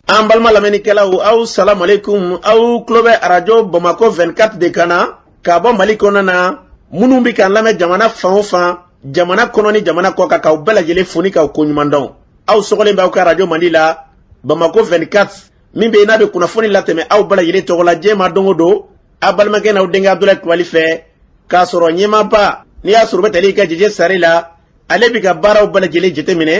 an balima lamɛnnikɛlaw aw salamu aleykum aw tulo bɛ arajo bamakɔ 24 de kan na ka bɔ mali kɔnɔ na minnu bɛ k'an lamɛn jamana fan o fan jamana kɔnɔ ni jamana kɔ kan k'aw bɛɛ lajɛlen fo ni k'aw koɲuman dɔn aw sɔgɔlen b'aw ka arajo mandi la bamakɔ 24 min bɛ n'a bɛ kunnafoni latɛmɛ aw bɛɛ lajɛlen tɔgɔ la diɲɛ ma don o don aw balimakɛ n'aw denkɛ abudulayi kulubali fɛ k'a sɔrɔ ɲɛmaaba n'i y'a sɔrɔ o bɛ tali kɛ jeje sari la ale bɛ ka baaraw bɛɛ lajɛlen jateminɛ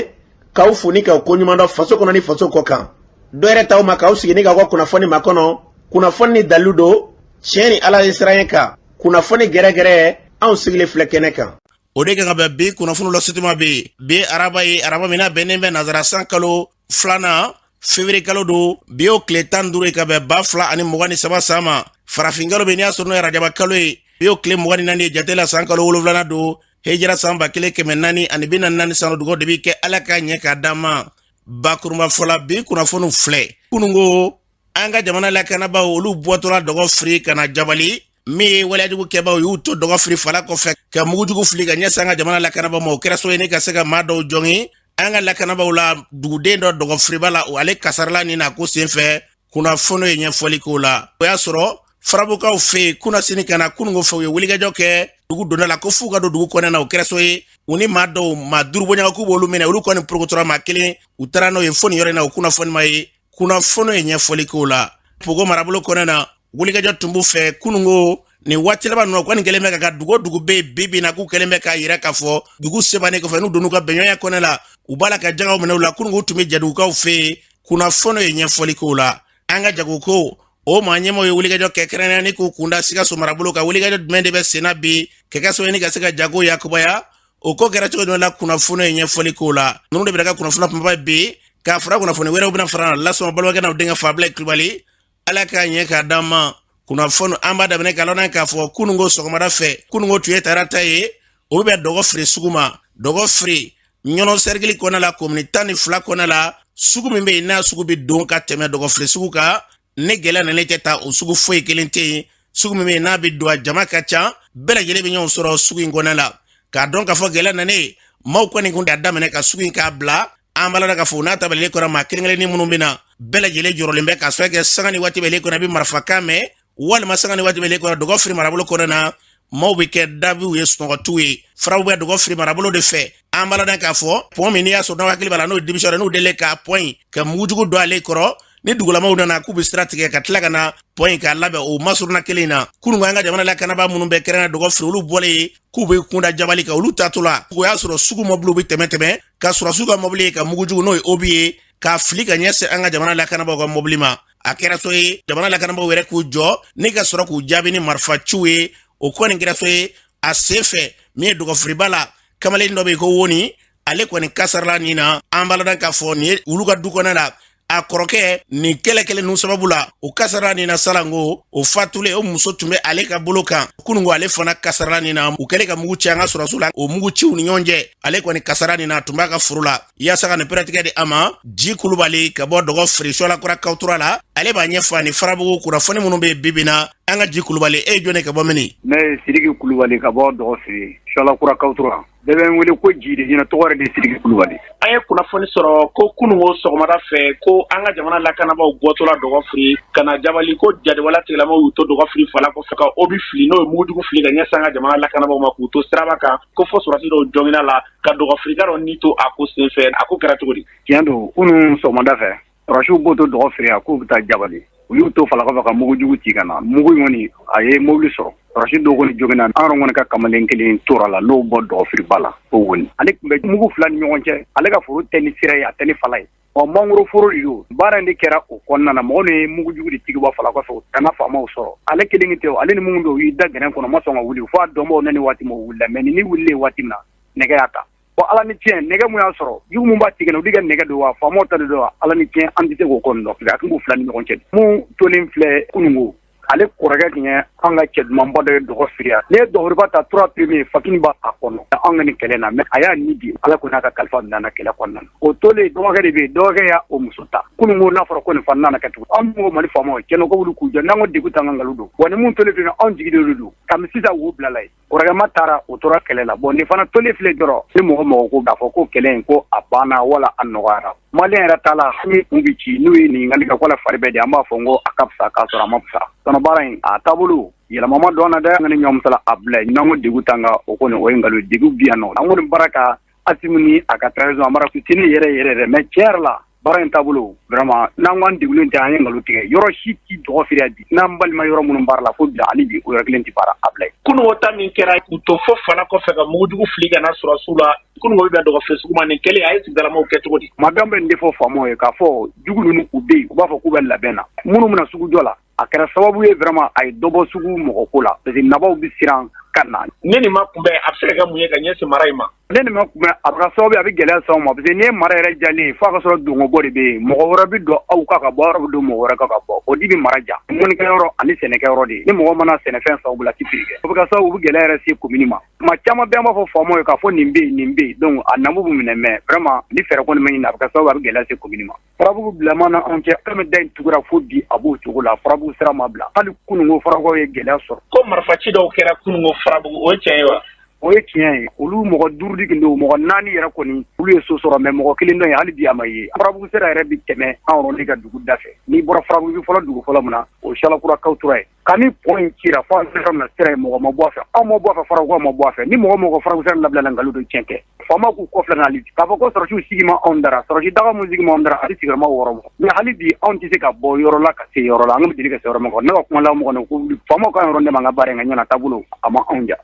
k'aw fo ni k'aw koɲuman dɔn faso kɔnɔ ni faso kɔ kan dɔ wɛrɛ t'aw ma k'aw sigi ni k'aw ka kunnafoni makɔnɔ kunnafoni ni dalilu don tiɲɛ ni ala ɲɛsiranɲɛ kan kunnafoni gɛrɛgɛrɛ anw sigilen filɛ kɛnɛ kan o de kan ka bɛn bi kunnafoni lasetuma bɛ bi araba ye araba min na bɛnnen bɛ nazara san kalo filanan fevrier kalo don bi y'o tile tan duuru ye ka bɛn ba fila ani mugan ni saba san ma farafinkalo bɛ n'i y'a sɔrɔ n'o ye arajaba kalo ye bi y'o tile mugan ni naani ye jate la san kalo wolonwulana don hejira san ba kelen kɛmɛ naani ani bi naani naani san dugawu de bɛ kɛ ala k'a ɲɛ k'a d'an ma bakurunba fɔla bi kunnafoniw filɛ kununko an ka jamana lakanabaaw olu bɔtɔla dɔgɔfiri ka na jabali min ye waleyajugu kɛbaaw y'u to dɔgɔfiri fala kɔfɛ ka mugujugu fili ka ɲɛsin an ka jamana lakanabaaw ma o kɛra sabu ye ni ka se ka maa dɔw jogin an ka lakanabaaw la duguden dɔ dɔgɔfiriba la o ale kasarala nin na ko senfɛ kunnafoni ye ɲɛfɔli k'o la o y'a sɔrɔ farabukaw fɛ yen kunasini ka na kununko fɛ u ye wulikajɔ kɛ dugu donda la ko f'u ka don dugu kɔnɔ na o kɛra sabu ye u ni maa dɔw maa duuru bɔɲɔgɔn k'u b'olu minɛ olu kɔni porokotora maa kelen u taara n'o ye fo nin yɔrɔ in na o kunnafoni ma ye kunnafoni ye ɲɛfɔli k'o la pogo marabolo kɔnɔ na wulikajɔ tun b'u fɛ kununko nin waati laban ninnu kɔni kɛlen bɛ ka ka dugu o dugu bɛ yen bi bi in na k'u kɛlen bɛ k'a yira k'a fɔ dugu sebannen kɔfɛ n'u donn'u ka bɛnɲɔgɔnya kɔnɔ la u b'a la ka jakaw minɛ u la kununko tun bɛ jadugukaw fɛ yen kunnafoniw ye ɲɛfɔli k'o la an ka jagoko o maa ɲɛmaaw ye wulikajɔ kɛ kɛrɛnkɛrɛnnen k'u kunda sikaso marabolo kan wulikajɔ jumɛn de bɛ senna bi ka kɛ sababu ye ka se ka jago yakubaya o ko kɛra cogo jumɛn la kunnafoniw ye ɲɛfɔli k'o la ninnu de bɛ ka kunnafoni kunbaba bi k'a fara kunnafoni wɛrɛw bɛna fara la sɔɔni balimakɛ n'aw denkɛ fɛ abudulayi kulubali ala k'a ɲɛ k'a d'an ma kunnafoni an b'a daminɛ k'a lɔn k'a fɔ kununko sɔgɔmada fɛ kununko tun ye tarata ye o bɛ bɛn dɔgɔfiri sugu ma dɔgɔfiri ɲɔnɔ sɛrikili kɔnɔ la komini tan ni fila kɔnɔ la sugu min bɛ yen n'a sugu bɛ don ka tɛmɛ dɔgɔfiri sugu kan ni gɛlɛya nanen tɛ ta o sugu foyi kelen tɛ yen sugu min bɛ yen n'a bɛ don a jama ka ca bɛɛ lajɛlen bɛ ɲɔgɔn sɔrɔ sugu in kɔnɔ la k'a dɔn k'a fɔ gɛlɛya nanen maaw kɔni kun y'a daminɛ ka sugu in k'a bila an b'a la k'a fɔ n'a dabilalen kɔ maa kelen-kelennin minnu bɛ na bɛɛ lajɛlen jɔrɔlen bɛ ka sɔrɔ kɛ sanga ni waati bɛɛ kɔnɔ a bɛ marifakan mɛn walima sanga ni waati bɛɛ kɔnɔ dɔgɔfiri marabolo kɔnɔ na maaw bɛ kɛ dabiw ye sunɔgɔ t'u ye faraw bɛ dɔgɔfiri marabolo de fɛ an b'a la k'a fɔ pɔn min n'i y'a sɔrɔ n'aw hakili b'a la n'o denmisɛn n'u deli k'a pɔn in ka mugujugu don ale kɔrɔ ni dugulamaw nana k'u bɛ sira tigɛ ka tila ka na pɔn in k'a labɛn o masurunna kelen in na kunun an ka jamana lakanabaa minnu bɛ kɛrɛnna dɔgɔfiri olu bɔlen k'u bɛ kunda jabali kan olu taatɔla o y'a sɔrɔ sugu mɔbiliw bɛ tɛmɛ tɛmɛ ka sɔrɔsiw ka mɔbili ye ka mugujugu n'o ye obi ye k'a fili ka ɲɛsin an ka jamana lakanabagaw ka mɔbili ma a kɛra so ye jamana lakanabagaw yɛrɛ k'u jɔ ni ka sɔrɔ k'u jaabi ni marifa ciw ye o kɔni kɛra so ye a sen fɛ min ye dɔgɔfiriba la kamalen dɔ bɛ yen ko woni ale kɔni kasarala nin na an b'a la k'a fɔ nin ye olu ka du kɔnɔ la a kɔrɔkɛ nin kɛlɛ kelen ninnu sababu la o kasarala nin na salanko o fatulen o muso tun bɛ ale ka bolo kan kununko ale fana kasarala nin na u kɛlen ka mugu ci an ka sɔrɔsiw la o mugu ciw ni ɲɔgɔn cɛ ale kɔni kasarala nin na tun b'a ka foro la yaasa ka nin pɛrɛtigɛ di a ma ji kulubali ka bɔ dɔgɔfiri suwala kura kawtura la ale b'a ɲɛfɔ ani farabugu kunnafoni minnu bɛ bibi na an ka ji kulubali e ye jɔn ye ka bɔ mini ne ye siriki kulubali ka bɔ dɔgɔfiri suwala kura kawtura Bɛɛ bɛ n wele ko ji de ɲɛna tɔgɔ yɛrɛ de siriki kulubali an ye kunnafoni sɔrɔ ko kunun ko sɔgɔmada fɛ ko an ka jamana lakanabaaw bɔtɔla dɔgɔfiri ka na jabali ko jatigɛwale tigilamaw y'u to dɔgɔfiri fala kɔfɛ ka obi fili n'o ye mugujugu fili ka ɲɛsin an ka jamana lakanabagaw ma k'u to siraba kan ko fɔ sɔrɔsi dɔw joginna la ka dɔgɔfirika dɔ ni to a ko senfɛ a ko kɛra cogo di tiɲɛ don kunun sɔgɔmada fɛ Sɔrɔsiw bɔtɔ dɔgɔfiri yan k'u bɛ taa jabali u y'u to fala kɔfɛ ka mugujugu ci ka na mugu in kɔni a ye mobili sɔrɔ sɔrɔsi dɔw kɔni joginna anw kɔni ka kamalen kelen tora la n'o bɔ dɔgɔfiriba la o woni ale tun bɛ mugu fila ni ɲɔgɔn cɛ ale ka foro tɛ ni sira ye a tɛ ni fala ye ɔ mangoro foro don baara in de kɛra o kɔnɔna na mɔgɔ ye mugujugu de ci ka bɔ fala kɔfɛ ka na faamaw sɔrɔ ale kelen tɛ ale ni minnu don y'i da gɛrɛn kɔnɔ ma sɔn ka wuli f'a dɔnbaw nani waati ma wulila mais nin wuli waati min na nɛgɛ y'a ta Bon Ala ni tiɲɛ nɛgɛ mun y'a sɔrɔ jugu mun b'a tigɛ olu de ka nɛgɛ don wa faamaw ta de don wa Ala ni tiɲɛ an tɛ se k'o kɔni dɔn a tun b'u 2 ni ɲɔgɔn cɛ de mun tolen filɛ kununko ale kɔrɔkɛ tun ye anw ka cɛ dumanba dɔ ye dɔgɔfiri yan n'i ye dɔgɔfiriba ta 3 premier Fakini b'a kɔnɔ anw ka nin kɛlɛ in na mais a y'a ni di Ala kɔni y'a ka kalifa minɛ an na kɛlɛ kɔnɔna na o tolen dɔgɔkɛ de bɛ yen dɔgɔkɛ y'a o muso ta kununko n'a fɔra ko nin fana nana kɛ tugun anw min ko Mali faamaw tiɲɛ na k'u wuli k'u jɔ n'an ko degun t'an kan nkalon don woni mun tolen filɛ nin ye anw jigi de y'olu de ye kabini sisan wo bilala ye kɔrɔkɛma taara o tora kɛlɛ la bon nin fana tolen filɛ dɔrɔn ni mɔgɔ mɔgɔ ko k'a fɔ ko kɛlɛ in ko a banna wala a nɔgɔyara maliyɛn yɛrɛ ta la hami kun bɛ ci n'u ye ɲininkali kɛ ko a fari bɛ di an b'a fɔ n ko a ka fisa k'a sɔrɔ a ma fisa sinon baara in a taabolo yɛlɛma ma don a la dɛ an kana ɲɔgɔn musala a bilayi n'an ko degun t'an kan o kɔni o ye nkalon ye degun bɛ yan non an kɔni barika Asimi ni a ka transition a barika tiɲɛ yɛrɛ yɛrɛ dɛ mais tiɲɛ yɛrɛ la baara in taabolo vraiment n'an ko an degunnen tɛ an ye nkalon tigɛ yɔrɔ si tɛ dɔgɔfiri yan bi n'an balima yɔrɔ minnu baara la fo bi la hali bi o yɔrɔ kelen tɛ baara a bilayi kununko ta min kɛra u to fo fala kɔfɛ ka mugujugu fili ka na sɔrɔsiw la kununko bi bɛ dɔgɔfiri sugu ma nin kɛlen a ye sigidalamaw kɛ cogo di maa bɛɛ bɛ nin de fɔ faamaw ye k'a fɔ jugu ninnu u bɛ yen u b'a fɔ k'u bɛ labɛn na minnu bɛna sugu jɔ la a kɛra sababu ye vraiment a ye dɔ bɔ sugu mɔgɔ ko la parce que nabaw bɛ siran ka na ni nin ma kunbɛn a bɛ se ka kɛ mun ye ka ɲɛsin mara in ma ni nin ma kunbɛn a bɛ ka sababu ye a bɛ gɛlɛya s'anw ma parce que n'i ye mara yɛrɛ jalen ye f'a ka sɔrɔ dongobɔ de bɛ yen mɔgɔ wɛrɛ bɛ don aw kan ka bɔ aw yɛrɛ bɛ don mɔgɔ wɛrɛ kan ka bɔ o de bɛ mara ja mɔnikɛyɔrɔ ani sɛnɛkɛyɔrɔ de ni mɔgɔ ma na sɛnɛfɛn san u bolo a tɛ feere kɛ o bɛ ka sababu u bɛ gɛlɛya yɛrɛ se commune ma tuma caman bɛɛ an b'a fɔ faamaw ye k'a fɔ nin bɛ yen nin bɛ yen donc a namu bɛ minɛ mais vraiment ni fɛɛrɛ kɔni ma ɲini a bɛ ka sababu ye a bɛ gɛlɛya se commune ma farabugu bilaman na anw cɛ mɛ da in tugura fo bi a b'o cogo la farabugu sira ma bila hali kununko farabugu ye gɛlɛya sɔrɔ ko marifaci dɔw kɛra kununko farabugu o ye tiɲɛ ye wa o ye tiɲɛ ye olu mɔgɔ duuru de tun don mɔgɔ naani yɛrɛ kɔni olu ye so sɔrɔ mɛ mɔgɔ kelen dɔ ye hali bi a ma ye farabugu sira yɛrɛ bɛ tɛmɛ anw yɛrɛ de ka dugu da fɛ n'i bɔra farabugu fɔlɔ dugu fɔlɔ min na o ye Salakura kawtura ye Ka ni pɔn in cira fo an sera na sira ye mɔgɔ ma bɔ a fɛ anw ma bɔ a fɛ farabugu ma bɔ a fɛ ni mɔgɔ ko farabugu sira labilala nkalon don tiɲɛ kɛ faama k'u kɔfilɛ hali k'a fɔ ko sɔrɔsiw sigi ma anw dara sɔrɔsi daga min sigi anw dara hali sigima wɔɔrɔ mɛ hali bi anw tɛ se ka bɔ yɔrɔ la ka se yɔrɔ la an bɛ deli ka se yɔrɔ ma kɔnɔ ne ka kuma mɔgɔ faamaw ka yɔrɔ dɛmɛ an ka baara in ka ɲɛna taabolo a ma anw ja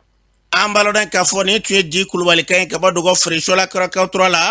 an b'a ladɔn k'a fɔ nin tun ye di kulubali kan ye ka bɔ dɔgɔfiri salakura kawtura la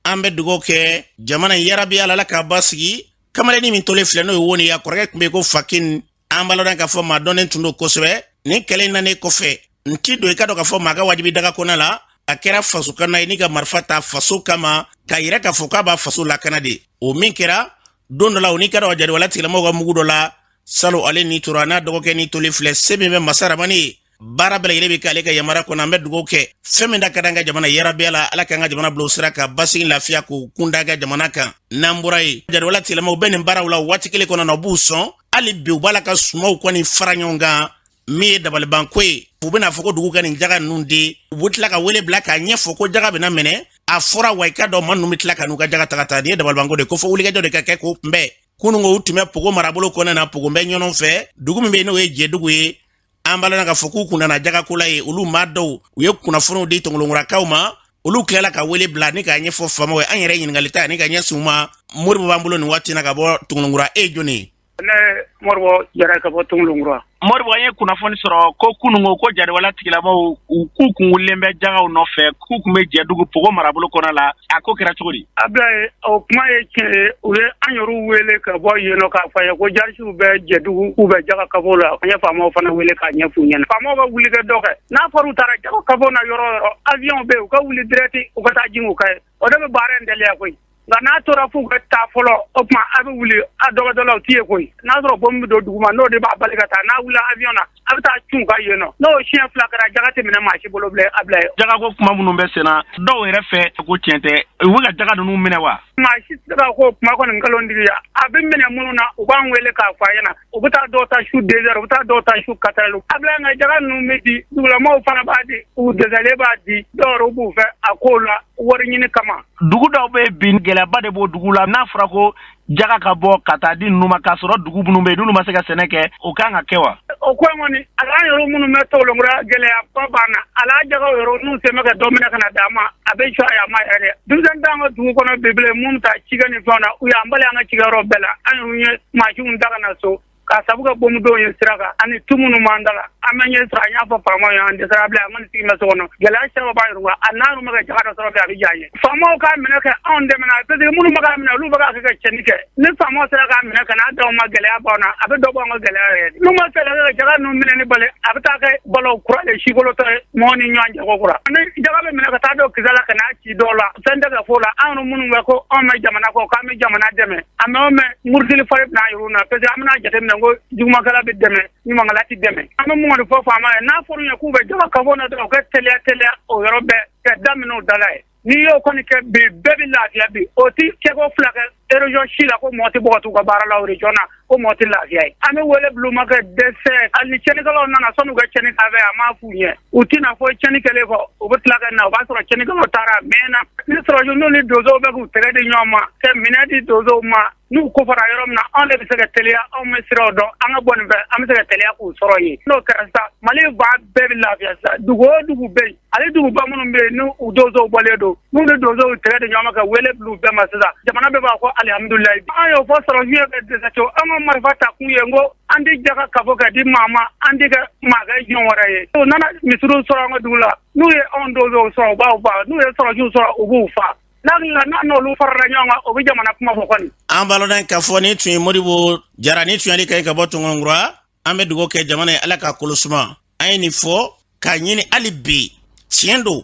an bɛ dugawu kɛ jamana in yarabi ala ala k'a basigi kamalennin min tolen filɛ n'o ye woni ye a kɔrɔkɛ tun bɛ ko fakin an b'a ladɔn k'a fɔ maa dɔnnen tun don kosɛbɛ nin kɛlɛ in nanen kɔfɛ n ti don i ka dɔn k'a fɔ maa ka wajibi daga kɔnɔ la a kɛra faso kana ye ni ka marifa ta faso kama k'a yira k'a fɔ k'a b'a faso lakana de o min kɛra don dɔ la o n'i ka dɔn ka jadiwala tigilamɔgɔw ka mugu dɔ la salon ale ni tora n'a dɔgɔkɛ ni tolen filɛ se min bɛ masa ramani ye baara bɛɛ lajɛlen bɛ kɛ ale ka yamari kɔnɔ an bɛ dugawu kɛ fɛn min da ka d'an ka jamana yarabi ala ala k'an ka jamana bila o sira kan basigi lafiya k'u kun d'an ka jamana kan n'an bɔra yen jadiwala tigilamaw bɛ nin baaraw la waati kelen kɔnɔ na u b'u sɔn hali bi u b'a la ka sumaw kɔni fara ɲɔgɔn kan min ye dabalibanko ye u bɛna fɔ ko dugu ka nin jaga ninnu di u bɛ tila ka wele bila k'a ɲɛfɔ ko jaga bɛna minɛ a fɔra wa i ka dɔn maa ninnu bɛ tila ka n'u ka jaga taga ta nin ye dabalibanko de ko fo wulikajɔ de ka kɛ k'o kunbɛn kununko u tun bɛ pogo marabolo kɔnɔna na pogo bɛ ɲɔgɔn fɛ dugu min bɛ yen n'o ye jɛdugu ye an b'a ladɔn k'a fɔ k'u kun nana jagako la yen olu maa dɔw u ye kunnafoniw di tɔngolonkurakaw ma olu tilala ka wele bila ni k'a ɲɛfɔ faamaw ye an yɛrɛ ɲiningali ta ani k'a ɲɛsin u ma moribo b'an bolo nin waati na ka bɔ tɔngolonkura e jɔni ne moribo jara ka bɔ tɔngolonkura moribo an ye kunnafoni sɔrɔ ko kununko ko jadiwala tigilamaw u k'u kun wulilen bɛ jagaw nɔfɛ k'u tun bɛ jɛdugu pogo marabolo kɔnɔ la a ko kɛra cogo di Ablaye o kuma ye tiɲɛ ye u ye an yɛrɛ wele ka bɔ yen k'a f'an ye ko jarisiw bɛ jɛdugu k'u bɛ jaka kafo la an ye faamaw fana wele k'a ɲɛf'u ɲɛna faamaw ka wuli ka dɔ kɛ n'a fɔra u taara jaka kafo na yɔrɔ o yɔrɔ awiyɔn bɛ yen u ka wuli dirɛkiti u ka taa jigin u kan yen o de bɛ baara in teliya koyi nka n'a tora f'u ka taa fɔlɔ o tuma a bɛ wuli a dɔgɔdalaw t'i ye koyi n'a sɔrɔ bomu bɛ don dugu ma n'o de b'a bali ka taa n'a wulila avion na a bɛ taa cun ka yen nɔ n'o siɲɛ fila kɛra jaga tɛ minɛ maa si bolo bilen abilayi jagako kuma minnu bɛ senna dɔw yɛrɛ fɛ ko tiɲɛ tɛ u bɛ ka jaga ninnu minɛ wa maa si tɛ se k'o kuma kɔni nkalontigiya a bɛ minɛ minnu na u b'an wele k'a fɔ an ɲɛna u bɛ taa dɔw ta su deux heures u bɛ taa dɔw ta su quatre heures abilayi nka jaga ninnu bɛ di dugulamaaw fana b'a di u dɛsɛlen b'a di dɔw yɛrɛ b'u fɛ a ko la wari ɲini kama dugu dɔw bɛ bi gɛlɛyaba de b'o dugu la n'a fɔra ko jaga ka bɔ ka taa di ninnu ma k'a sɔrɔ dugu minnu bɛ yen n'olu ma se ka sɛnɛ kɛ o kan ka kɛ wa o ko in kɔni ala yɔrɔ minnu bɛ tɔngɔlɔnkura gɛlɛyaba b'an na ala jaga yɔrɔ n'u se bɛ ka dɔ minɛ ka na d'an ma a bɛ jɔ a ma yɛrɛ denmisɛn t'an ka dugu kɔnɔ bilen minnu ta cikɛ ni fɛnw na u y'an bali an ka cikɛyɔrɔ bɛɛ la an ye mansinw ta ka na so k'a sabu kɛ bomu don ye sira kan ani tu minnu b'an da la an bɛ ɲɛ sɔrɔ an y'a fɔ faamaw ye an dɛsɛra abilayi an kɔni sigi bɛ so kɔnɔ gɛlɛya caman b'an yɔrɔ a n'an bɛ ka jaga dɔ sɔrɔ bi a bɛ diya an ye faamaw k'a minɛ ka anw dɛmɛ parce que minnu bɛ k'a minɛ olu bɛ k'a kɛ ka cɛnni kɛ ni faamaw sera k'a minɛ ka n'a d'anw ma gɛlɛya b'an na a bɛ dɔ bɔ an ka gɛlɛya yɛrɛ n'u ma se ka jaga ninnu minɛni bali a bɛ taa kɛ balawu kura de sikolotɔ ye mɔgɔw ni ɲɔgɔn cɛ kokura ni jaga bɛ minɛ ka taa don kisɛ la ka n'a ci dɔw la fɛn tɛ ka fɔ o la anw minnu bɛ ko anw bɛ jamana kɔ k'an bɛ jamana dɛmɛ a mɛɛn o mɛɛn murutili fari bɛ na yɛrɛ bɛna jate minɛ ko jugumankɛla bɛ dɛmɛ ɲumankɛla tɛ dɛmɛ an bɛ min kɔni fɔ faamaw ye n'a fɔra u ye k'u bɛ jama kafo na dɔrɔn u ka teliya teliya o yɔrɔ bɛɛ ka daminɛ u da la yen n'i y'o kɔni kɛ bi bɛɛ bɛ lafiya bi o tɛ siɲɛko fila kɛ région si la ko mɔgɔ tɛ bɔ ka t'u ka baara la o région na ko mɔgɔ tɛ lafiya yen an bɛ wele bila u ma ka dɛsɛ hali ni cɛnnikɛlaw nana sanni u ka cɛnni kɛ an m'a f'u ye u tɛ na fɔ cɛnni kɛlen kɔ u bɛ tila ka na o b'a sɔrɔ cɛnnikɛlaw taara a mɛɛnna ni sɔrɔsiw ni donsow bɛ k'u tɛgɛ di ɲɔgɔn ma ka minɛn di donsow ma n'u ko fɔra yɔrɔ min na anw de bɛ se ka teliya anw bɛ siraw dɔn an ka bɔ nin fɛ an bɛ se ka teliya k'u sɔrɔ yen n'o kɛra sa mali ba bɛɛ bɛ lafiya sa dugu o dugu bɛ yen hali duguba minnu bɛ yen n'u donsow bɔlen don n'u ni donsow tɛgɛ di ɲɔgɔn ma ka wele bila u bɛɛ ma sisan jamana bɛɛ b'a fɔ alihamudulilayi an y'o fɔ sɔrɔsiw ye ka dɛsɛ co an ka marifa ta kun ye n ko an tɛ jaka kafo ka di maa ma an tɛ kɛ maa ka jɔn wɛrɛ ye u nana misiriw sɔrɔ an ka dugu la n'u ye anw donsow sɔrɔ u b'an faa n'u ye sɔrɔsiw sɔrɔ u b'u faa n'an n'olu farala ɲɔgɔn kan o bɛ jamana kuma fɔ kɔni an b'a dɔn k'a fɔ nin tun ye modibo jara nin tun y'ale kan ye ka bɔ tɔngɔnkura an bɛ dugawu kɛ jamana ye ala k'a kolo suma an ye nin fɔ k'a ɲini hali bi tiɲɛ don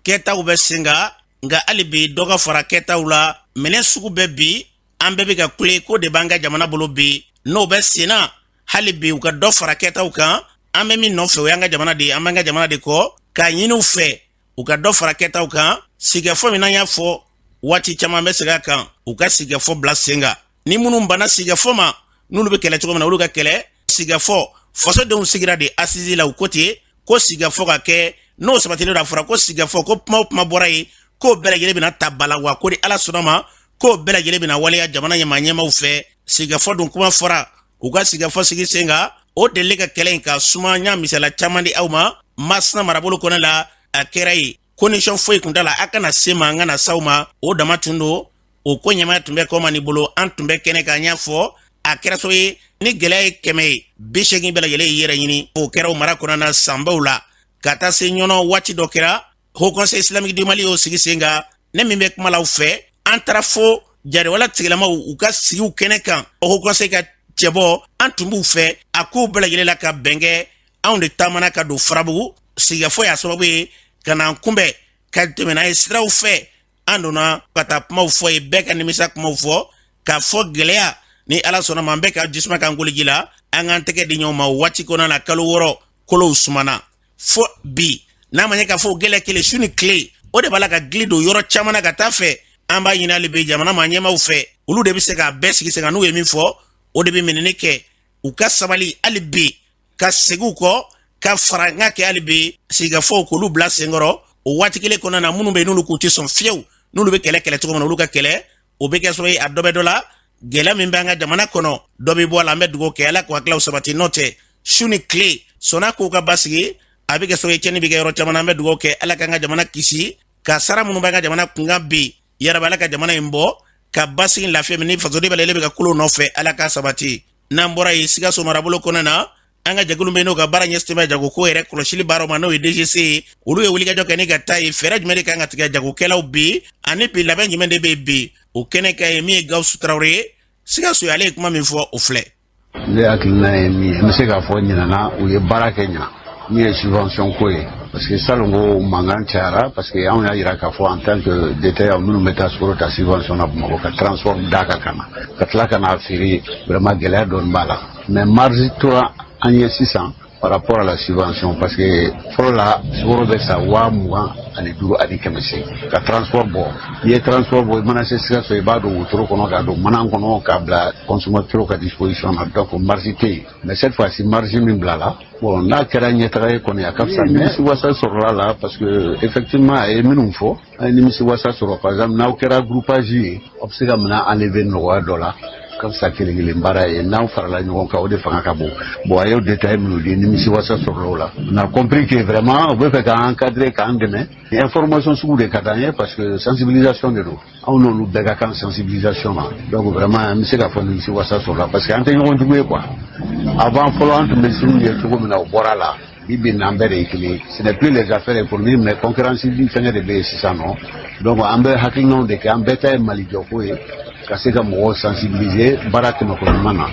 kɛtaw bɛ sen kan nka hali bi dɔ ka fara kɛtaw la minɛn sugu bɛ bi an bɛɛ bɛ ka kule ko de b'an ka jamana bolo bi n'o bɛ senna hali bi u ka dɔ fara kɛtaw kan an bɛ min nɔfɛ o y'an ka jamana de ye an b'an ka jamana de kɔ k'a ɲini u fɛ u ka dɔ fara kɛtaw kan sigikafɔ min n'an y'a fɔ waati caman bɛ segin a kan u ka sigikafɔ bila sen kan ni minnu banna sigikafɔ ma n'olu bɛ kɛlɛ cogo min na olu ka kɛlɛ sigikafɔ fasodenw sigira de assises la u ko ten ko sigikafɔ ka kɛ n'o sabatilen don a fɔra ko sigikafɔ ko kuma o kuma bɔra yen k'o bɛɛ lajɛlen bɛna ta ba la wa ko ni ala sɔnna ma k'o bɛɛ lajɛlen bɛna waleya jamana ɲɛmaa ɲɛmaaw fɛ sigikafɔ dun kuma fɔra u ka sigikafɔ sigi sen kan o delili ka kɛlɛ in ka suma n y'a misala caman di aw ma masina marabolo kɔnɔ la a kɛra yen condition foyi kun t'a la a kana se an ma an kana s'aw ma o dama tun don o ko ɲɛmaya tun bɛ kɔmani bolo an tun bɛ kɛnɛ kan y'a fɔ a kɛra sabu ye ni gɛlɛya ye kɛmɛ ye bi segin bɛɛ lajɛlen y'i yɛrɛ ɲini o kɛra o mara kɔnɔna sanbaw la ka taa se ɲɔnɔ waati dɔ kɛra haut conseil islamique du mali y'o sigi sen kan ne min bɛ kuma la aw fɛ an taara fo jariwala tigilamaw u ka sigiw kɛnɛ kan haut conseil ka cɛbɔ an tun b'u fɛ a kow bɛɛ lajɛlen la ka bɛn kɛ anw de taamana ka don farabugu sigikafɔ y'a sababu ye ka n'an kunbɛn ka tɛmɛ n'an ye siraw fɛ an donna ka taa kumaw fɔ yen bɛɛ ka nimisa kumaw fɔ k'a fɔ gɛlɛya ni ala sɔnna ma an bɛɛ ka jisuma k'an koliji la an k'an tɛgɛ di ɲɔgɔn ma waati kɔnɔna na kalo wɔɔrɔ kolow sumana fo bi n'a ma ɲɛ k'a fɔ o gɛlɛya kelen su ni tile o de b'a la ka gili don yɔrɔ caman na ka taa a fɛ an b'a ɲini hali bi jamana ma ɲɛmaaw fɛ olu de bɛ se k'a bɛɛ sigi sen kan n'u ye min fɔ o de bɛ minɛni kɛ u ka sabali hali bi ka segin u kɔ ka farankan kɛ hali bi sigikafɔw k'olu bila sen kɔrɔ o waati kelen kɔnɔna na minnu bɛ yen n'olu k'u tɛ sɔn fewu n'olu bɛ kɛlɛ kɛlɛ cogo min na olu ka kɛlɛ o bɛ kɛ sabu ye a dɔ bɛ dɔ la gɛlɛya min bɛ an ka jamana kɔnɔ dɔ bɛ bɔ a la an bɛ dugawu kɛ ala k'u hakililaw sabati n'o tɛ su ni tile sanni kow ka basigi a bɛ kɛ sabu ye cɛnni bɛ kɛ yɔrɔ caman na an bɛ dugawu kɛ ala k'an ka jamana kisi kasara minnu b'an ka jamana kun kan bi yarabi ala ka jamana in bɔ ka basigi lafiya min ni fasoden bɛɛ lajɛlen bɛ ka kulo nɔfɛ ala k'a sabati n'an bɔra yen sikaso marabolo kɔnɔna an ka jɛkulu bɛ n'o ka baara ɲɛsinnen bɛ jagoko yɛrɛ kɔlɔsili baaraw ma n'o ye DGC ye olu ye wulikajɔ kɛ ni ka taa ye fɛɛrɛ jumɛn de ka kan ka tigɛ jagokɛlaw bi ani bi labɛn jumɛn de bɛ bi o kɛnɛ ka ye min ye Gawusu Tarawele ye Sikaso ale ye kuma min fɔ o filɛ. Ne hakilina ye min ye n bɛ se k'a fɔ ɲinan u ye baara kɛ ɲinan min ye subvention ko ye parce que salon ko mankan cayara parce que anw y'a jira k'a fɔ en tant que détaillant minnu bɛ taa sukoro ta subvention na Bamakɔ ka transport d'a kan ka na ka tila ka n'a feere vraiment gɛlɛya dɔɔni b'a la. mais marge tora an ye sisan par rapport à la subvention parce que fɔlɔ la sukoro bɛ san waa mugan ani duuru ani kɛmɛ se ka transport bɔ i ye transport bɔ i mana se sikaso i b'a don wotoro kɔnɔ k'a don mana kɔnɔ k'a bila consommateur ka disposition na donc marge tɛ yen mais cette fois-ci marge min bilala bon n'a kɛra ɲɛtaga ye kɔni a ka fisa mais wasa sɔrɔla la parce que effectivement a ye minnu fɔ A ye nimisi wasa sɔrɔ par exemple n'aw kɛra groupage ye aw bɛ se ka minɛn enlever nɔgɔya dɔ la o ka fisa kelen kelen baara ye n'aw farala ɲɔgɔn kan o de fanga ka bon bon a y'o détail minnu di nimisi wasa sɔrɔla o la on a compris que vraiment u bɛ fɛ k'an encadrer k'an dɛmɛ information sugu de ka d'an ye parce que sensibilisation de don anw n'olu bɛɛ ka kan sensibilisation na donc vraiment an bɛ se k'a fɔ nimisi wasa sɔrɔla parce que an tɛ ɲɔgɔn jugu ye quoi avant fɔlɔ an tun bɛ sigiw ye cogo min na o bɔra a la Bi bi in na an bɛɛ de ye kelen ce n'est plus les affaires économiques mais concurrence bi fɛngɛ de bɛ yen sisan non donc an bɛ hakilinaw de kɛ an bɛɛ ta ye mali jɔko ye ka se ka mɔgɔw sensibiliser baara tɛmɛ koɲuman na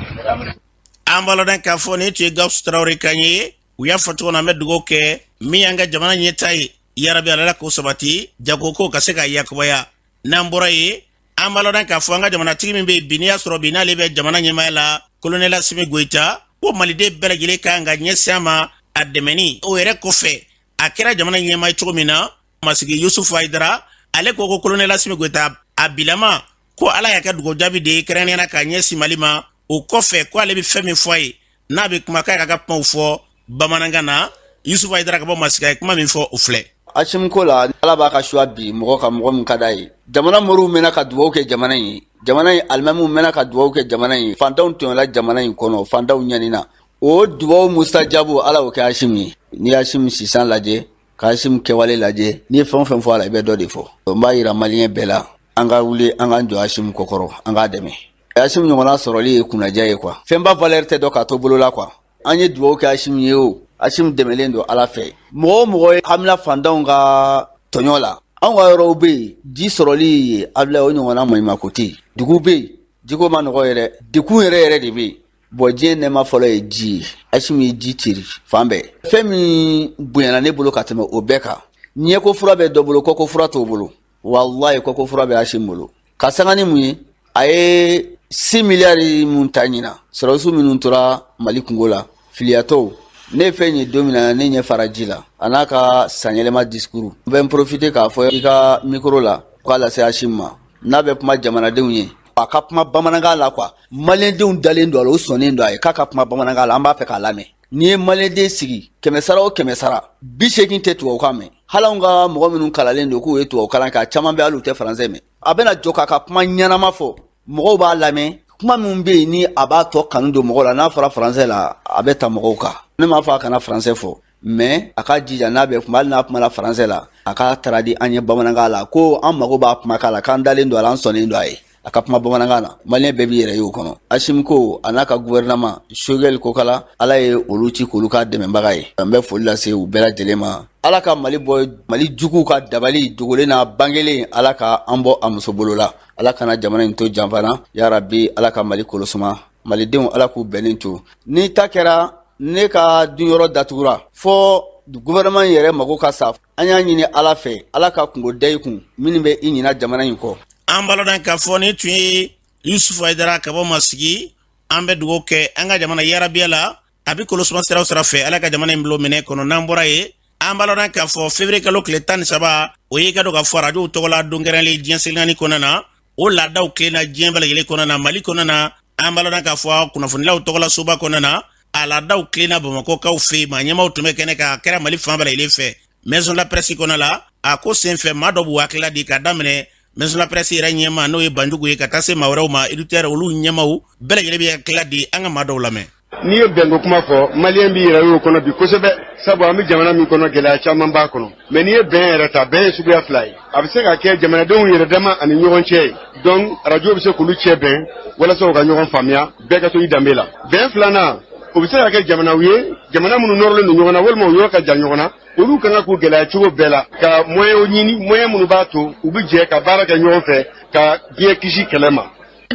an b'a dɔn k'a fɔ nin tun ye gawusu tarawele kan ye u y'a fɔ cogo min na an bɛ dugawu kɛ min y'an ka jamana ɲɛtaa ye yarabi ala k'o sabati jagokow ka se ka yakubaya n'an bɔra yen an b'a dɔn k'a fɔ an ka jamanatigi min bɛ yen bi n'i y'a sɔrɔ bi n'ale bɛ jamana ɲɛmaaya la kolonɛli asimi goyita ko maliden bɛɛ lajɛlen kan ka ɲɛsin a ma a dɛmɛni o yɛrɛ kɔfɛ a kɛra jamana ɲɛmaa cogo min na masigi yusufu ayidara ale ko ko kolonɛli asimi goyita a bilama ko ala y'a kɛ dugawu jaabi de ye kɛrɛnkɛrɛnnenya la ka ɲɛsin mali ma o kɔfɛ ko ale bɛ fɛn min fɔ a ye n'a bɛ kuma k'a ka ka kumaw fɔ bamanankan na yusufu ayidara ka bɔ masigi a ye kuma min fɔ o filɛ asimu ko la ala b'a ka choix bin mɔgɔ kan mɔgɔ min ka d'a ye jamana moriw mɛnna ka dugawu kɛ jamana in ye jamana in alimamiw mɛnna ka dugawu kɛ jamana in ye fantanw tɔɲɔla jamana in kɔnɔ fantanw ɲanina o dubaw mustajabu ala o kɛ asim ye n'i asim sisan lajɛ ka asim kɛwale lajɛ n'i ye fɛn o fɛn fɔ a la i bɛ dɔ de fɔ n b'a yira maliyɛn bɛɛ la an ka wuli an k'an jɔ asim kɔkɔrɔ an k'a dɛmɛ asimu ɲɔgɔnna sɔrɔli ye kunnadiya ye quoi fɛnba valeur tɛ dɔn k'a to bolo la quoi an ye dugawu kɛ asimu ye o asimu dɛmɛlen don ala fɛ mɔgɔ o mɔgɔ ye hamina fantanw ka tɔɲɔ la anw ka yɔrɔw bɛ yen ji sɔrɔli ye abila o ɲɔgɔnna maɲumako tɛ yen dugu bɛ yen jiko ma nɔgɔ yɛrɛ dekun yɛrɛ yɛrɛ de bɛ yen bon diɲɛ nɛɛma fɔlɔ ye ji ye asimu ye ji ceri fan bɛɛ fɛn min bonyana ne bolo ka tɛmɛ o bɛɛ kan ɲɛko fura bɛ dɔ bolo kɔko fura t'o bolo walayi kɔko fura bɛ Asim bolo ka sanga ni mun ye a ye six milliards min ta ɲinan sɔrɔdasiw minnu tora Mali kungo la filiyatɔw ne fɛn ye don min na ne ɲɛ fara ji la a n'a ka sanyɛlɛma discours n bɛ n profiter k'a fɔ i ka micro la k'a lase Asim ma n'a bɛ kuma jamanadenw ye a ka kuma bamanankan la quoi maliyɛndenw dalen don a la u sɔnnen don a ye k'a ka kuma bamanankan la an b'a fɛ k'a lamɛn N'i ye maliyɛnden sigi kɛmɛsara o kɛmɛsara bi segin tɛ tubabukan mɛn hali anw ka mɔgɔ minnu kalalen don k'u ye tubabu kalan kɛ a caman bɛ hali u tɛ faransɛ mɛn a bɛna jɔ k'a ka kuma ɲɛnama fɔ mɔgɔw b'a lamɛn kuma min bɛ yen ni a b'a tɔ kanu don mɔgɔw la n'a fɔra faransɛ la a bɛ taa mɔgɔw kan ne m'a fɔ a kana faransɛ fɔ mais a ka jija n'a bɛ kuma hali n'a kumana faransɛ la a k'a traduire an ye bamanankan la ko an mago b'a kumakan la k'an dalen don a la an sɔnnen don a ye a ka kuma bamanankan na maliyɛn bɛɛ b'i yɛrɛ ye o kɔnɔ asimi ko a n'a ka guvɛrɛnaman sogɛli kokala ala ye olu ci k'olu ka dɛmɛbaga ye an bɛ foli lase u bɛɛ lajɛlen ma ala ka mali bɔ mali juguw ka dabali dogolen n'a bangelen ala ka an bɔ a muso bolo la ala kana jamana in to janfa na yarabi ala ka mali kolosuma malidenw ala k'u bɛnnen to ni ta kɛra ne ka dunyɔrɔ datugura fɔɔ guvɛrɛnaman yɛrɛ mago ka sa an y'a ɲini ala fɛ ala ka kunko da i kun minnu bɛ i ɲina jamana in kɔ an b'a ladɔn k'a fɔ nin tun ye yusufu ayidara ka bɔ masigi an bɛ dugawu kɛ an ka jamana yarabi ala a bɛ kolosuma siraw sira fɛ ala ka jamana in bolo minɛ kɔnɔ n'an bɔra yen an b'a ladɔn k'a fɔ février kalo tile tan ni saba o ye ka dɔn k'a fɔ arajow tɔgɔla don kɛrɛnlen diɲɛ seleke naani kɔnɔna na o laadaw tilenna diɲɛ bɛɛ lajɛlen kɔnɔna na mali kɔnɔna na an b'a ladɔn k'a fɔ kunnafonilaw tɔgɔla soba kɔnɔna na a laadaw tilenna bamakɔkaw fɛ yen maa ɲɛmaaw tun bɛ kɛnɛ kan a kɛra mali fan bɛɛ lajɛlen fɛ maison de la presse kɔnɔna na a ko senfɛ maa dɔw b'u hakilila di ka daminɛ maison de la presse yɛrɛ ɲɛmaa n'o ye banjugu ye ka taa se maa wɛrɛw ma éditeur olu ɲɛmaaw bɛɛ lajɛlen b'u hakilila di an ka maa dɔw lamɛn N'i ye bɛnko kuma fɔ maliyɛn b'i yɛrɛ y'o kɔnɔ bi kosɛbɛ sabu an bɛ jamana min kɔnɔ gɛlɛya caman b'a kɔnɔ mɛ n'i ye bɛn yɛrɛ ta bɛn ye suguya fila ye a bɛ se ka kɛ jamanadenw yɛrɛ dama ani ɲɔgɔn cɛ ye donc arajo bɛ se k'olu cɛ bɛn walasa u ka ɲɔgɔn faamuya bɛɛ ka to i danbe la bɛn filanan o bɛ se ka kɛ jamanaw ye jamana minnu nɔrɔlen don ɲɔgɔn na walima u yɔrɔ ka jan ɲɔgɔn na olu ka kan k'u gɛlɛya cogo bɛɛ la ka moyɛnw ɲini moyɛn minnu b'a to u bɛ jɛ ka baara kɛ ɲɔgɔn fɛ ka diɲɛ kisi kɛlɛ ma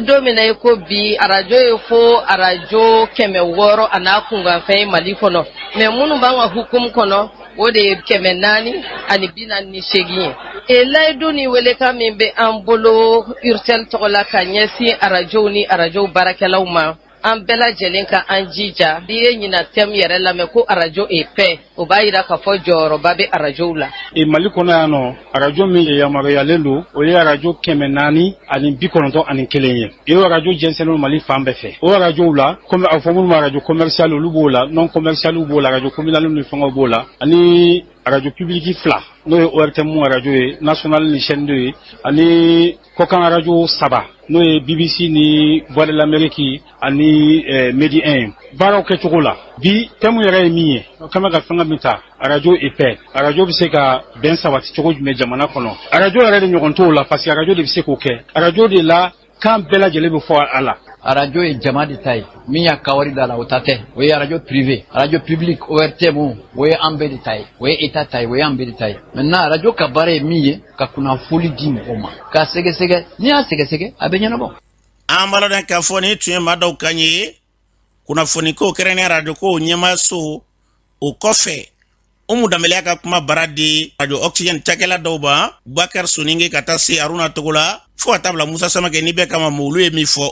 don min i ko bi arajo ye fo arajo kɛmɛ wɔɔrɔ a n'a kunkanfɛn ye mali kɔnɔ mɛ minnu b'an ka hukumu kɔnɔ o de ye kɛmɛ naani ani bi naani ni seegin ye e layidu ni welekan min bɛ an bolo urtel tɔgɔ la ka ɲɛsin arajow ni arajow baarakɛlaw ma an bɛɛ lajɛlen ka an jija n'i ye ɲinan thème yɛrɛ lamɛn ko arajo et paix o b'a yira k'a fɔ jɔyɔrɔba bɛ arajow la mali kɔnɔ yan nɔ arajo min yamaruyalen don o ye arajo kɛmɛ naani ani bi kɔnɔntɔn ani kelen ye o arajo jɛnsɛnnen mali fan bɛɛ fɛ o arajow la kɔmi a fɔ minnu ma arajo commercial olu b'o la non commercial b'o la arajo communal ni fɛngɛw b'o la ani arajo public fila n'o ye ORTM arajo ye national ni chaîne deux ye ani Kɔkan arajo saba n'o ye bbc ni voix de l'amérique ani medi un baaraw kɛcogo la bi thème yɛrɛ ye min ye o kama ka fɛngɛ min ta arajo et paix arajo bɛ se ka bɛn sabati cogo jumɛn jamana kɔnɔ arajo yɛrɛ de ɲɔgɔn t'o la parce que arajo de bɛ se k'o kɛ arajo de la kan bɛɛ lajɛlen bɛ fɔ a la arajo ye jama de ta ye min y'a ka wari da la o ta tɛ o ye arajo privé arajo public ORTM o ye an bɛɛ de ta ye o ye état ta ye o ye an bɛɛ ta ye maintenant arajo ka baara ye min ye ka kunnafoni di mɔgɔw ma k'a sɛgɛsɛgɛ n'i y'a sɛgɛsɛgɛ a bɛ ɲɛnabɔ an b'a ladɔn k'a fɔ nin tun ye maa dɔw kan ye kunnafoniko kɛrɛnkɛrɛnnenya arajoko ɲɛmaayaso o kɔfɛ umu danbɛlɛ y'a ka kumabara di arajo oxygène cakɛla dɔw ma bubakari soninge ka taa se aruna togola fo ka taa bila musa samakɛ ni bɛɛ kama ma olu ye min fɔ